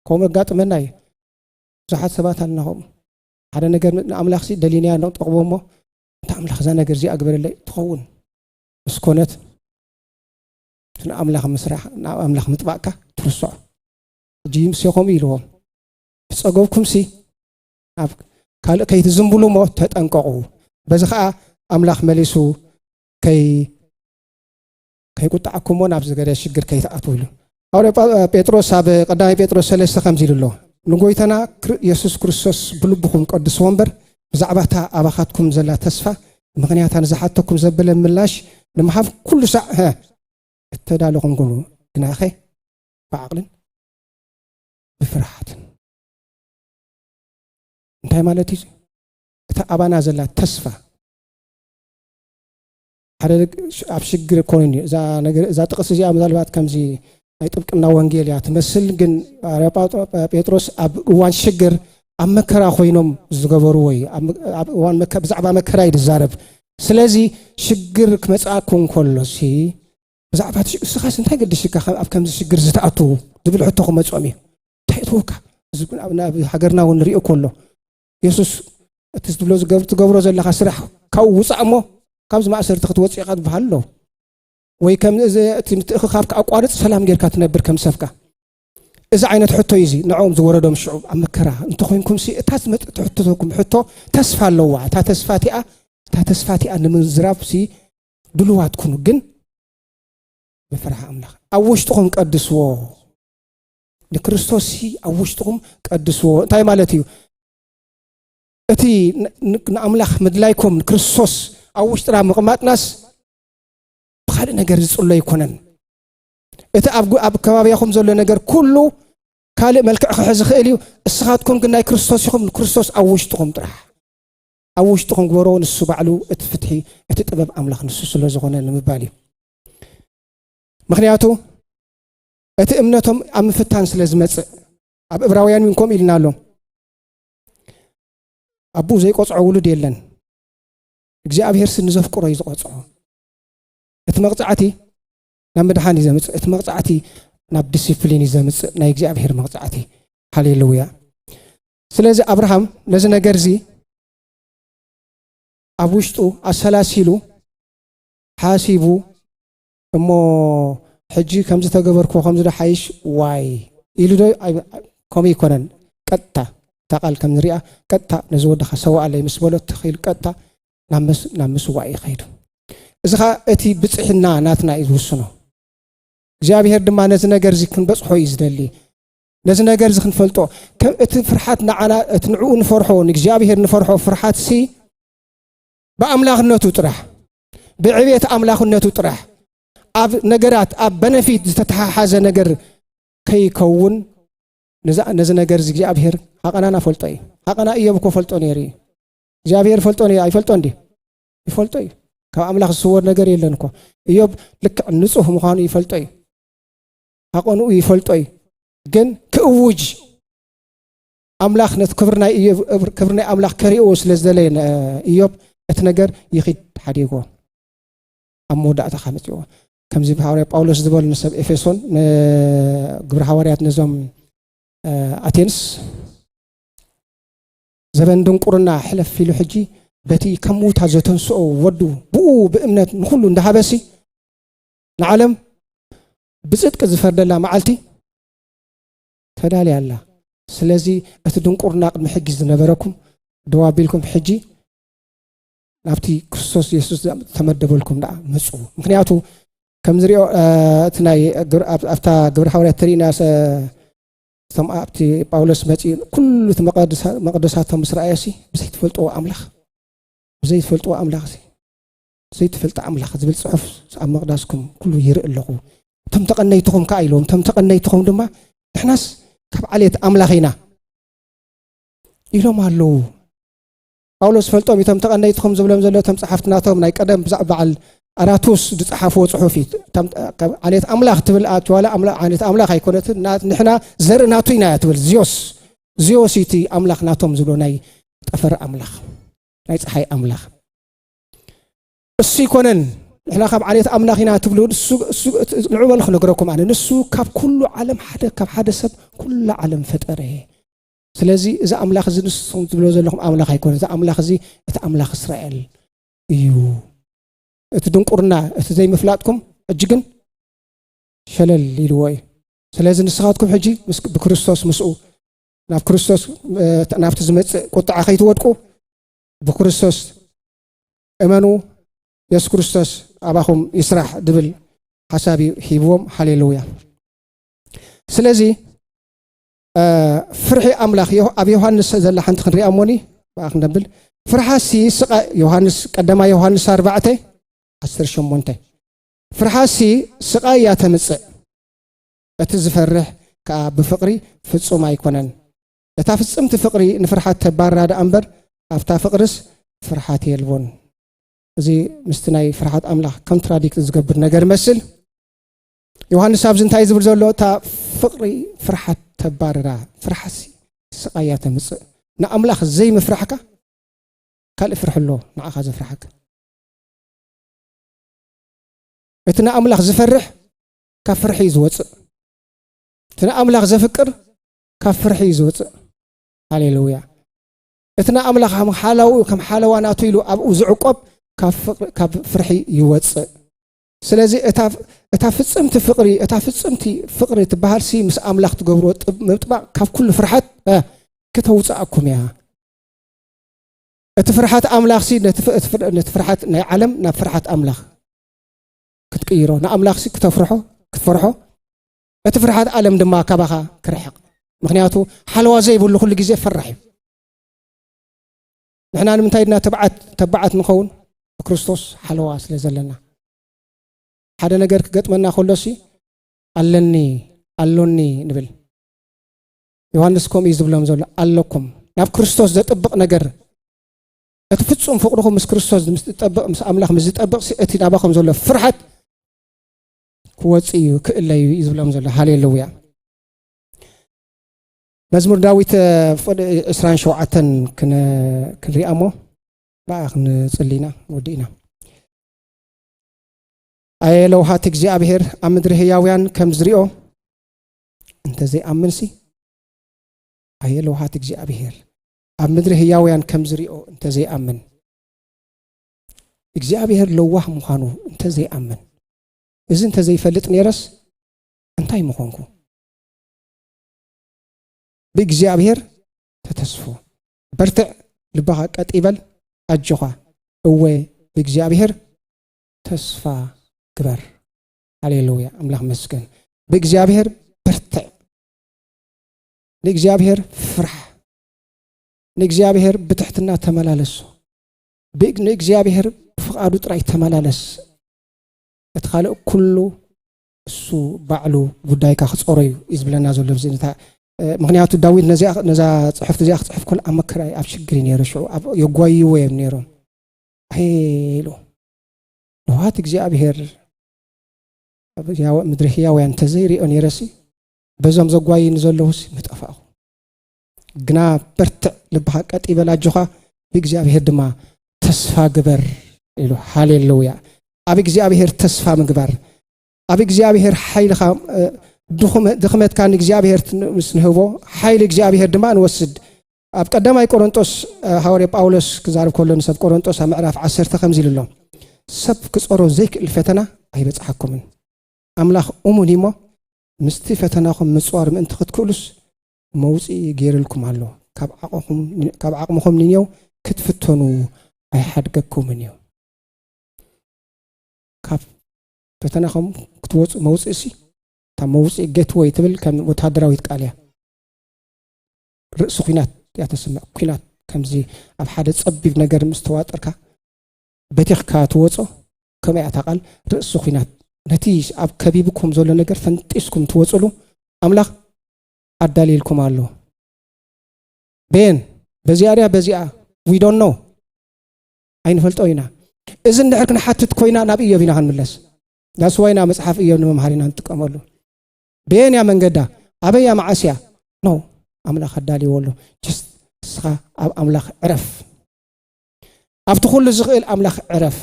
ከምኡ ኣጋጥመና እዩ ብዙሓት ሰባት ኣለና ከምኡ ሓደ ነገር ንኣምላኽ ሲ ደሊናያ ንጠቕቦ እሞ እንታ ኣምላኽ እዛ ነገር እዚኣ ግበረለይ ትኸውን ምስ ኮነት ንኣምላኽ ምስራሕ ናብ ኣምላኽ ምጥባቕካ ትርስዖ ሕጂ ምስ ከምኡ ኢልዎም ዝፀገብኩም ሲ ኣብ ካልእ ከይትዝምብሉ እሞ ተጠንቀቑ በዚ ከዓ ኣምላኽ መሊሱ ከይቁጣዕኩም እውን ኣብ ዝገደ ሽግር ከይትኣትው ኢሉ ሃዋርያ ጴጥሮስ ኣብ ቀዳማይ ጴጥሮስ ሰለስተ ከምዚ ኢሉ ኣሎ ንጎይታና የሱስ ክርስቶስ ብልብኹም ቀድስዎ እምበር ብዛዕባ እታ ኣባኻትኩም ዘላ ተስፋ ምክንያታ ንዝሓተኩም ዘበለ ምላሽ ንምሃብ ኩሉ ሳዕ እተዳለኹም ግኑ ግናኸ ብዓቕልን ብፍርሓትን እንታይ ማለት እዩ እታ ኣባና ዘላ ተስፋ ሓደ ኣብ ሽግር ኮይን እዩ እዛ ነገር እዛ ጥቅስ እዚኣ ምናልባት ከምዚ ናይ ጥብቅና ወንጌል እያ ትመስል ግን ጴጥሮስ ኣብ እዋን ሽግር ኣብ መከራ ኮይኖም ዝገበርዎ እዩ ኣብ እዋን ብዛዕባ መከራ እዩ ዝዛረብ ስለዚ ሽግር ክመፅኣኩ እንከሎ ሲ ብዛዕባ እስኻስ እንታይ ገድሽካ ኣብ ከምዚ ሽግር ዝተኣትዉ ዝብል ሕቶ ክመፆም እዩ እንታይ እትወካ ናብ ሃገርና እውን ንሪኦ ከሎ የሱስ እቲ ዝብሎ ትገብሮ ዘለካ ስራሕ ካብኡ ውፃእ እሞ ካብዚ ማእሰርቲ ክትወፅ ኢካ ዝበሃል ኣሎ ወይ ከምእቲ ምትእክካብካ ኣቋርፅ ሰላም ጌርካ ትነብር ከም ሰብካ እዚ ዓይነት ሕቶ እዩ እዚ ንዕኦም ዝወረዶም ሽዑ ኣብ መከራ እንተኮይንኩም ሲ እታ ዝመፅእ ትሕትተኩም ሕቶ ተስፋ ኣለዋ እታ ተስፋ እቲኣ እታ ተስፋ እቲኣ ንምዝራብ ሲ ድልዋት ኩኑ ግን ብፍርሒ ኣምላኽ ኣብ ውሽጥኹም ቀድስዎ ንክርስቶስ ኣብ ውሽጥኹም ቀድስዎ እንታይ ማለት እዩ እቲ ንኣምላኽ ምድላይኩም ንክርስቶስ ኣብ ውሽጥና ምቕማጥናስ ብካልእ ነገር ዝፅሎ ኣይኮነን እቲ ኣብ ከባቢያኹም ዘሎ ነገር ኩሉ ካልእ መልክዕ ክሕ ዝኽእል እዩ እስኻትኩም ግን ናይ ክርስቶስ ኢኹም ንክርስቶስ ኣብ ውሽጥኹም ጥራሕ ኣብ ውሽጥኹም ግበሮ ንሱ ባዕሉ እቲ ፍትሒ እቲ ጥበብ ኣምላኽ ንሱ ስለ ዝኾነ ንምባል እዩ ምክንያቱ እቲ እምነቶም ኣብ ምፍታን ስለ ዝመጽእ ኣብ እብራውያን እውን ከምኡ ኢልና ኣሎ ኣቦኡ ዘይቆፅዖ ውሉድ የለን እግዚኣብሄር ሲ ንዘፍቅሮ እዩ ዝቆፅዖ እቲ መቕፃዕቲ ናብ ምድሓን እዩ ዘምፅእ እቲ መቕፃዕቲ ናብ ዲስፕሊን እዩ ዘምፅእ ናይ እግዚኣብሄር መቕፃዕቲ ሃሌሉያ ስለዚ ኣብርሃም ነዚ ነገር እዚ ኣብ ውሽጡ ኣሰላሲሉ ሓሲቡ እሞ ሕጂ ከምዚ ተገበርክዎ ከምዚ ዶ ሓይሽ ዋይ ኢሉ ዶ ከምኡ ኣይኮነን ቀጥታ እታ ቃል ከም ንሪኣ ቀጥታ ነዚ ወድኻ ሰዋኣለይ ምስ በሎ ትኽ ኢሉ ቀጥታ ናብ ምስዋእ እዩ ከይዱ እዚ ከዓ እቲ ብፅሕና ናትና እዩ ዝውስኖ እግዚኣብሄር ድማ ነዚ ነገር እዚ ክንበፅሖ እዩ ዝደሊ ነዚ ነገር እዚ ክንፈልጦ እቲ ፍርሓት ንዓና እቲ ንዕኡ ንፈርሖ ንእግዚኣብሄር ንፈርሖ ፍርሓት ሲ ብኣምላኽነቱ ጥራሕ ብዕቤት ኣምላኽነቱ ጥራሕ ኣብ ነገራት ኣብ በነፊት ዝተተሓሓዘ ነገር ከይከውን ነዚ ነገር እዚ እግዚኣብሄር ሃቐናና ፈልጦ እዩ ሃቐና እዮብ እኮ ፈልጦ ነይሩ እዩ እግዚኣብሄር ፈልጦ ነይሩ ኣይፈልጦ እንዲ ይፈልጦ እዩ ካብ ኣምላኽ ዝስወር ነገር የለን እኮ እዮብ ልክዕ ንፁህ ምዃኑ ይፈልጦ እዩ ሃቐንኡ ይፈልጦ እዩ ግን ክእውጅ ኣምላኽ ነቲ ክብሪ ናይ እዮብ ክብሪ ናይ ኣምላኽ ከሪእዎ ስለ ዝደለየ እዮብ እቲ ነገር ይኺድ ሓዲጎ ኣብ መወዳእታ ካመፅዎ ከምዚ ሃዋርያ ጳውሎስ ዝበሉ ንሰብ ኤፌሶን ንግብሪ ሃዋርያት ነዞም ኣቴንስ ዘበን ድንቁርና ሕለፍ ኢሉ ሕጂ በቲ ከም ምውታ ዘተንስኦ ወዱ ብኡ ብእምነት ንኩሉ እንዳሃበሲ ንዓለም ብፅድቂ ዝፈርደላ መዓልቲ ተዳልያ ኣላ። ስለዚ እቲ ድንቁርና ቅድሚ ሕጂ ዝነበረኩም ደው ኣቢልኩም ሕጂ ናብቲ ክርስቶስ የሱስ ዝተመደበልኩም ደኣ ምጹ። ምክንያቱ ከም ዝሪኦ እቲ ናይ ኣብታ ግብረ ሓዋርያት ተሪእና እቶም ኣብቲ ጳውሎስ መፂኡ ኩሉ እቲ መቅደሳቶም ምስ ረኣዮሲ ብዘይትፈልጥዎ ኣምላኽ ብዘይትፈልጥዎ ኣምላኽ ዘይትፈልጥ ኣምላኽ ዝብል ጽሑፍ ኣብ መቕዳስኩም ኩሉ ይርኢ ኣለኹ እቶም ተቐነይትኹም ከዓ ኢልዎም እቶም ተቐነይትኹም ድማ ንሕናስ ካብ ዓሌት ኣምላኽ ኢና ኢሎም ኣለዉ ጳውሎስ ፈልጦም እቶም ተቐነይትኹም ዝብሎም ዘሎ እቶም ጸሓፍትናቶም ናይ ቀደም ብዛዕባ በዓል ኣራቱስ ዝጸሓፍዎ ጽሑፍ እዩ ካብ ዓሌት ኣምላኽ ትብል ኣዋላ ዓሌት ኣምላኽ ኣይኮነት ንሕና ዘርኢ ናቱ ኢና እያ ትብል ዚዮስ ዚዮስ እቲ ኣምላኽ ናቶም ዝብሎ ናይ ጠፈር ኣምላኽ ናይ ፀሓይ ኣምላኽ እሱ ይኮነን ንሕና ካብ ዓሌት ኣምላኽ ኢና ትብሉ ንዑ በሉ ክነግረኩም ኣነ ንሱ ካብ ኩሉ ዓለም ሓደ ካብ ሓደ ሰብ ኩላ ዓለም ፈጠረ ስለዚ እዚ ኣምላኽ እዚ ንስኹም ትብሎ ዘለኹም ኣምላኽ ኣይኮነ እዚ ኣምላኽ እዚ እቲ ኣምላኽ እስራኤል እዩ እቲ ድንቁርና እቲ ዘይምፍላጥኩም ሕጂ ግን ሸለል ኢልዎ እዩ ስለዚ ንስኻትኩም ሕጂ ብክርስቶስ ምስኡ ናብ ክርስቶስ ናብቲ ዝመፅእ ቁጥዓ ከይትወድቁ ብክርስቶስ እመኑ የሱስ ክርስቶስ ኣባኹም ይስራሕ ድብል ሓሳብ እዩ ሂብዎም ሃሌሉያ ስለዚ ፍርሒ ኣምላኽ ኣብ ዮሃንስ ዘላ ሓንቲ ክንሪኣ እሞኒ ብኣ ክንደብል ፍርሓሲ ስቃ ዮሃንስ ቀዳማ ዮሃንስ ኣርባዕተ ዓስር ሸሞንተ ፍርሓሲ ስቃይ እያ ተምፅእ እቲ ዝፈርሕ ከዓ ብፍቅሪ ፍፁም ኣይኮነን እታ ፍጽምቲ ፍቕሪ ንፍርሓት ተባርራ ደኣ እምበር ኣብታ ፍቕርስ ፍርሓት የልቦን። እዚ ምስቲ ናይ ፍርሓት ኣምላኽ ኮንትራዲክት ዝገብር ነገር ይመስል። ዮሃንስ ኣብዚ እንታይ ዝብል ዘሎ እታ ፍቕሪ ፍርሓት ተባርራ ፍርሓሲ ስቓያ ተምፅእ ንኣምላኽ ዘይምፍራሕካ ካልእ ፍርሒ ኣሎ ንዓኻ ዘፍርሓካ እቲ ንኣምላኽ ዝፈርሕ ካብ ፍርሒ እዩ ዝወፅእ እቲ ንኣምላኽ ዘፍቅር ካብ ፍርሒ እዩ ዝውፅእ ሃሌሉያ እቲ ናይ ኣምላኽ ከም ሓላው ከም ሓለዋ ናቱ ኢሉ ኣብኡ ዝዕቆብ ካብ ፍርሒ ይወፅእ ስለዚ እታ ፍፅምቲ ፍቕሪ እታ ፍፅምቲ ፍቕሪ ትበሃል ሲ ምስ ኣምላኽ ትገብሮ ምጥባቕ ካብ ኩሉ ፍርሓት ክተውፅኣኩም እያ እቲ ፍርሓት ኣምላኽ ሲ ነቲ ፍርሓት ናይ ዓለም ናብ ፍርሓት ኣምላኽ ክትቅይሮ ንኣምላኽ ሲ ክተፍርሖ ክትፈርሖ እቲ ፍርሓት ዓለም ድማ ካባኻ ክርሕቕ ምክንያቱ ሓለዋ ዘይብሉ ኩሉ ግዜ ፈራሕ እዩ ንሕና ንምንታይ ድና ተብዓት ተባዓት ንኸውን ብክርስቶስ ሓለዋ ስለ ዘለና ሓደ ነገር ክገጥመና ከሎሲ ኣለኒ ኣሎኒ ንብል ዮሃንስ ከምኡ እዩ ዝብሎም ዘሎ ኣለኩም ናብ ክርስቶስ ዘጥብቕ ነገር እቲ ፍጹም ፍቕርኹም ምስ ክርስቶስ ምስ ዝጠብቕ ምስ ኣምላኽ ምስ ዝጠብቕ እቲ ናባኹም ዘሎ ፍርሓት ክወፅእ እዩ ክእለዩ እዩ ዝብሎም ዘሎ ሃሌሉያ መዝሙር ዳዊት ፍቅዲ 27 ክንሪኣ እሞ ብኣ ክንፅሊ ኢና ወዲእና ኣየ ለውሃት እግዚኣብሄር ኣብ ምድሪ ህያውያን ከም ዝሪኦ እንተዘይኣምንሲ ኣየ ለውሃት እግዚኣብሄር ኣብ ምድሪ ህያውያን ከም ዝሪኦ እንተዘይኣምን እግዚኣብሄር ለዋህ ምዃኑ እንተዘይኣምን እዚ እንተዘይፈልጥ ነይረስ እንታይ ምኾንኩ? ብእግዚኣብሔር ተተስፉ በርትዕ፣ ልባኻ ቀጥ ይበል፣ ኣጆኻ እወ ብእግዚኣብሔር ተስፋ ግበር። ሃሌሉያ ኣምላኽ መስገን። ብእግዚኣብሔር በርትዕ፣ ንእግዚኣብሔር ፍራሕ፣ ንእግዚኣብሔር ብትሕትና ተመላለሱ፣ ንእግዚኣብሔር ብፍቓዱ ጥራይ ተመላለስ እቲ ካልእ ኩሉ እሱ ባዕሉ ጉዳይካ ክጾሮ እዩ እዩ ዝብለና ዘሎ እዚ ምክንያቱ ዳዊት ነዛ ፅሑፍቲ እዚኣ ክፅሕፍ ኮል ኣብ መከራ ኣብ ሽግር እዩ ነይሩ ሽዑ የጓይዎ እዮም ነይሮም ኢሉ ንዋት እግዚኣብሄር ምድሪ ህያውያን እንተዘይሪኦ ነይረሲ በዞም ዘጓይኒ ዘለውስ ምጠፋእኹ ግና በርትዕ ልብኻ ቀጥ ይበል ኣጆኻ ብእግዚኣብሄር ድማ ተስፋ ግበር ኢሉ ሃሌሉያ ኣብ እግዚኣብሄር ተስፋ ምግባር ኣብ እግዚኣብሄር ሓይልኻ ድኽመትካ ንእግዚኣብሄር ምስ ንህቦ ሓይሊ እግዚኣብሄር ድማ ንወስድ ኣብ ቀዳማይ ቆሮንጦስ ሃዋርያ ጳውሎስ ክዛርብ ከሎ ንሰብ ቆሮንጦስ ኣብ ምዕራፍ ዓሰርተ ከምዚ ኢሉ ኣሎ ሰብ ክፀሮ ዘይክእል ፈተና ኣይበፅሓኩምን ኣምላኽ እሙን እሞ ምስቲ ፈተናኹም ምፅዋር ምእንቲ ክትክእሉስ መውጽኢ ገይርልኩም ኣሎ። ካብ ዓቕምኹም ንኔው ክትፍተኑ ኣይሓድገኩምን እዩ። ካብ ፈተናኹም ክትወጹ መውጽእሲ እታ መውጽኢ ጌትወይ ትብል ከም ወተሃደራዊት ቃል እያ። ርእሲ ኩናት እያ ተስምዕ። ኩናት ከምዚ ኣብ ሓደ ጸቢብ ነገር ምስ ተዋጠርካ በቲኽካ ትወጾ ከምኡ እያ ታቃል ርእሲ ኩናት ነቲ ኣብ ከቢብኩም ዘሎ ነገር ፈንጢስኩም ትወጽሉ ኣምላኽ ኣዳልይልኩም ኣሎ ቤን በዚኣ ድያ በዚኣ ዊዶን ኖ ኣይንፈልጦ ኢና እዚ እንድሕር ክንሓትት ኮይና ናብ እዮብ ኢና ክንምለስ ዳስዋይ ናብ መፅሓፍ እዮብ ንምምሃር ኢና ንጥቀመሉ ቤን እያ መንገዳ ኣበይ እያ መዓስ እያ ኖ ኣምላኽ ኣዳልይዎ ኣሎ ጅስት ንስኻ ኣብ ኣምላኽ ዕረፍ ኣብቲ ኩሉ ዝኽእል ኣምላኽ ዕረፍ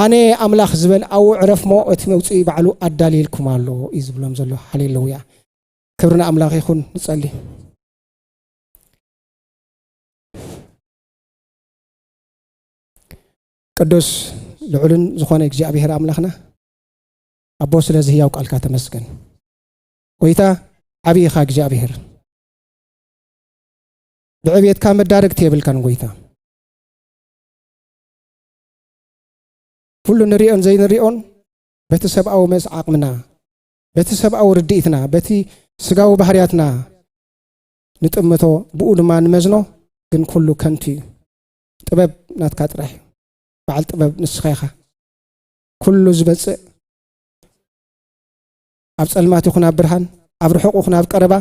ኣነ ኣምላኽ ዝበል ኣብኡ ዕረፍሞ እቲ መውጽኢ ባዕሉ ኣዳልየልኩም ኣሎ እዩ ዝብሎም ዘሎ ሃሌሉያ ክብሪ ንኣምላኽ ይኹን ንጸሊ ቅዱስ ልዑልን ዝኾነ እግዚኣብሔር ኣምላኽና ኣቦ ስለዚ ህያው ቃልካ ተመስገን ጎይታ ዓብዪ ኢኻ እግዚኣብሔር ብዕብየትካ መዳረግቲ የብልካን ጎይታ ኩሉ ንሪኦን ዘይንሪኦን በቲ ሰብኣዊ መስ ዓቕምና በቲ ሰብኣዊ ርድኢትና በቲ ስጋዊ ባህርያትና ንጥምቶ ብኡ ድማ ንመዝኖ ግን ኩሉ ከንቱ እዩ ጥበብ ናትካ ጥራሕ እዩ በዓል ጥበብ ንስኻ ኢኻ ኩሉ ዝመፅእ ኣብ ፀልማት ይኹን ኣብ ብርሃን ኣብ ርሑቕ ይኹን ኣብ ቀረባ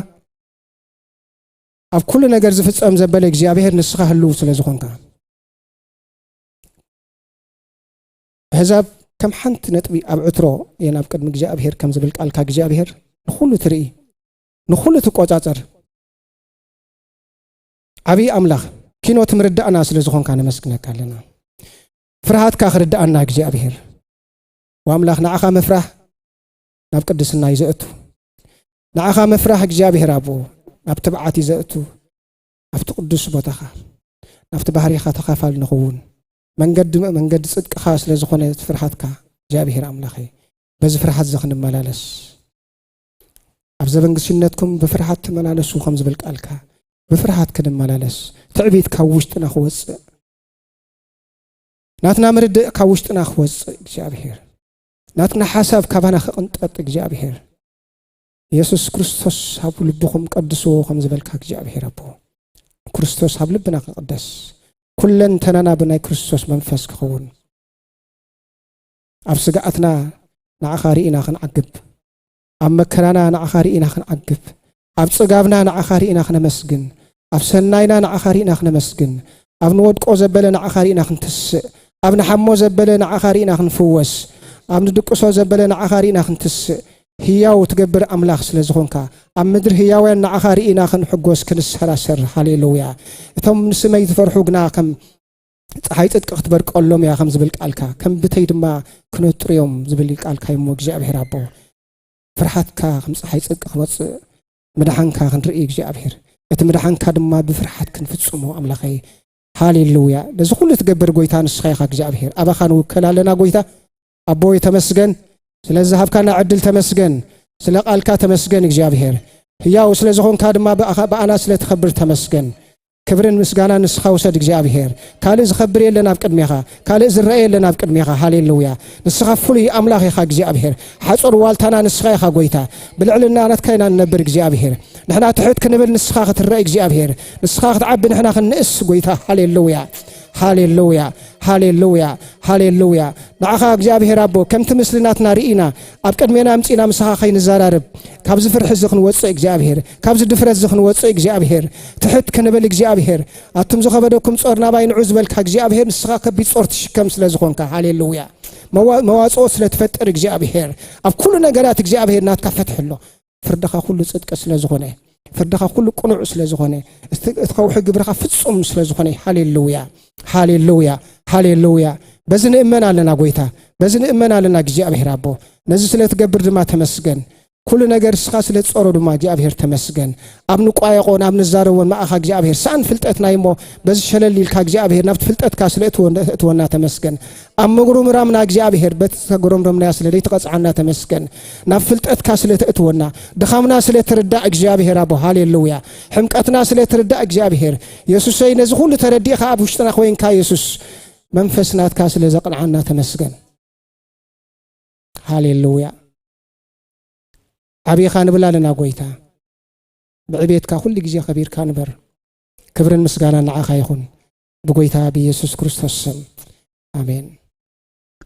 ኣብ ኩሉ ነገር ዝፍፀም ዘበለ እግዚኣብሄር ንስኻ ህልው ስለ ዝኾንካ ኣሕዛብ ከም ሓንቲ ነጥቢ ኣብ ዕትሮ እየን ኣብ ቅድሚ እግዚኣብሄር ከም ዝብል ቃልካ እግዚኣብሄር ንኹሉ ትርኢ ንኹሉ ትቆፃፀር ዓብዪ ኣምላኽ ኪኖ ትምርዳእና ስለ ዝኾንካ ነመስግነካ ኣለና ፍርሃትካ ክርዳኣና እግዚኣብሄር ወኣምላኽ ንዓኻ ምፍራህ ናብ ቅድስና እዩ ዘእቱ ንዓኻ ምፍራህ እግዚኣብሄር ኣብኡ ናብ ትብዓት እዩ ዘእቱ ኣብቲ ቅዱስ ቦታኻ ናብቲ ባህሪኻ ተኻፋል ንኽውን መንገዲ መንገዲ ጽድቅኻ ስለ ዝኾነ እቲ ፍርሃትካ እግዚኣብሔር ኣምላኸይ በዚ ፍርሃት እዚ ክንመላለስ ኣብ ዘበን ግስነትኩም ብፍርሃት ተመላለሱ ከም ዝብል ቃልካ ብፍርሃት ክንመላለስ ትዕቢት ካብ ውሽጥና ክወፅእ ናትና ምርድእ ካብ ውሽጥና ክወፅእ እግዚኣብሔር ናትና ሓሳብ ካባና ክቕንጠጥ እግዚኣብሔር የሱስ ክርስቶስ ኣብ ልብኹም ቀድስዎ ከም ዝበልካ እግዚኣብሔር ኣቦ ክርስቶስ ኣብ ልብና ክቕደስ ኩለንተናና ብናይ ክርስቶስ መንፈስ ክኸውን ኣብ ስግኣትና ንዓኻ ርኢና ክንዓግብ ኣብ መከራና ንዓኻ ርኢና ክንዓግብ ኣብ ጽጋብና ንዓኻ ርኢና ክነመስግን ኣብ ሰናይና ንዓኻ ርኢና ክነመስግን፣ ኣብ ንወድቆ ዘበለ ንዓኻ ርኢና ክንትስእ፣ ኣብ ንሓሞ ዘበለ ንዓኻ ርኢና ክንፍወስ፣ ኣብ ንድቅሶ ዘበለ ንዓኻ ርኢና ክንትስእ፣ ህያው ትገብር ኣምላኽ ስለ ዝኾንካ፣ ኣብ ምድሪ ህያውያን ንዓኻ ርኢና ክንሕጎስ ክንሰራሰር፣ ሃሌሉያ። እቶም ንስመይ ዝፈርሑ ግና ከም ፀሓይ ጽድቂ ክትበርቀሎም እያ ከም ዝብል ቃልካ ከም ብተይ ድማ ክነጥሩ እዮም ዝብል ቃልካ እዩሞ እግዚኣብሔር ኣቦ ፍርሓትካ ከም ፀሓይ ጽድቂ ክመፅእ ምድሓንካ ክንርኢ እግዚኣብሔር እቲ ምድሓንካ ድማ ብፍርሓት ክንፍጽሞ ኣምላኸይ ሃሌሉያ ነዚ ኩሉ ትገብር ጎይታ ንስኻ ኢኻ እግዚኣብሔር ኣባኻ ንውከል ኣለና ጎይታ ኣቦይ ተመስገን ስለዚ ሃብካና ዕድል ተመስገን ስለ ቃልካ ተመስገን እግዚኣብሔር ህያው ስለ ዝኾንካ ድማ ብኣና ስለ ተኸብር ተመስገን ክብርን ምስጋናን ንስኻ ውሰድ እግዚኣብሄር ካልእ ዝኸብር የለን ኣብ ቅድሜኻ ካልእ ዝረአ የለን ኣብ ቅድሜኻ ሃሌሉያ ንስኻ ፍሉይ ኣምላኽ ኢኻ እግዚኣብሄር ሓፁር ዋልታና ንስኻ ኢኻ ጎይታ ብልዕልና ናትካ ኢና ንነብር እግዚኣብሄር ንሕና ትሕት ክንብል ንስኻ ክትረእ እግዚኣብሄር ንስኻ ክትዓቢ ንሕና ክንእስ ጎይታ ሃሌሉያ ሃሌሉያ ሃሌሉያ ሃሌሉያ ንዓኻ እግዚኣብሄር ኣቦ ከምቲ ምስልናትና ርኢና ኣብ ቅድሜና ኣምፂና ምሳኻ ከይንዘራርብ ካብዚ ፍርሒ እዚ ክንወፅእ እግዚኣብሄር ካብዚ ድፍረትዚ ክንወጽእ እግዚኣብሄር ትሕት ክንብል እግዚኣብሄር ኣቱም ዝኸበደኩም ጾር ናባይ ንዑ ዝበልካ እግዚኣብሄር ንስኻ ከቢድ ጾር ትሽከም ስለ ዝኾንካ ሃሌሉያ መዋጽኦ ስለ ትፈጥር እግዚኣብሄር ኣብ ኩሉ ነገራት እግዚኣብሄር ናትካ ፍትሒ ኣሎ ፍርድኻ ኩሉ ጽድቂ ስለ ዝኾነ ፍርድኻ ኩሉ ቅኑዕ ስለ ዝኾነ እቲ ከውሒ ግብርኻ ፍጹም ስለ ዝኾነ ሃሌሉያ ሃሌሉያ ሃሌሉያ በዚ ንእመን ኣለና ጎይታ በዚ ንእመን ኣለና እግዚኣብሄር ኣቦ ነዚ ስለ ትገብር ድማ ተመስገን ኩሉ ነገር እስኻ ስለ ትጸሮ ድማ እግዚኣብሔር ተመስገን ኣብ ንቋየቆን ኣብ ንዛረቦን ማእኻ እግዚኣብሔር ሰኣን ፍልጠትና እዩሞ በዚ ሸለል ኢልካ እግዚኣብሔር ናብቲ ፍልጠትካ ስለ እትወና ተመስገን ኣብ ምጉርምራምና እግዚኣብሔር በቲ ዝተጎረምረምናያ ስለ ዘይትቐፅዓና ተመስገን ናብ ፍልጠትካ ስለ ተእትወና ድኻምና ስለ ትርዳእ እግዚኣብሔር ኣቦ ሃሌሉያ ሕምቀትና ስለ ትርዳእ እግዚኣብሔር የሱሰይ ነዚ ኩሉ ተረዲእኻ ኣብ ውሽጥና ኮይንካ የሱስ መንፈስ ናትካ ስለ ዘቕንዓና ተመስገን ሃሌሉያ ዓብኻ ንብል ኣለና ጎይታ ብዕቤትካ ኩሉ ግዜ ከቢርካ ንበር ክብርን ምስጋና ንዓኻ ይኹን ብጎይታ ብኢየሱስ ክርስቶስ ስም ኣሜን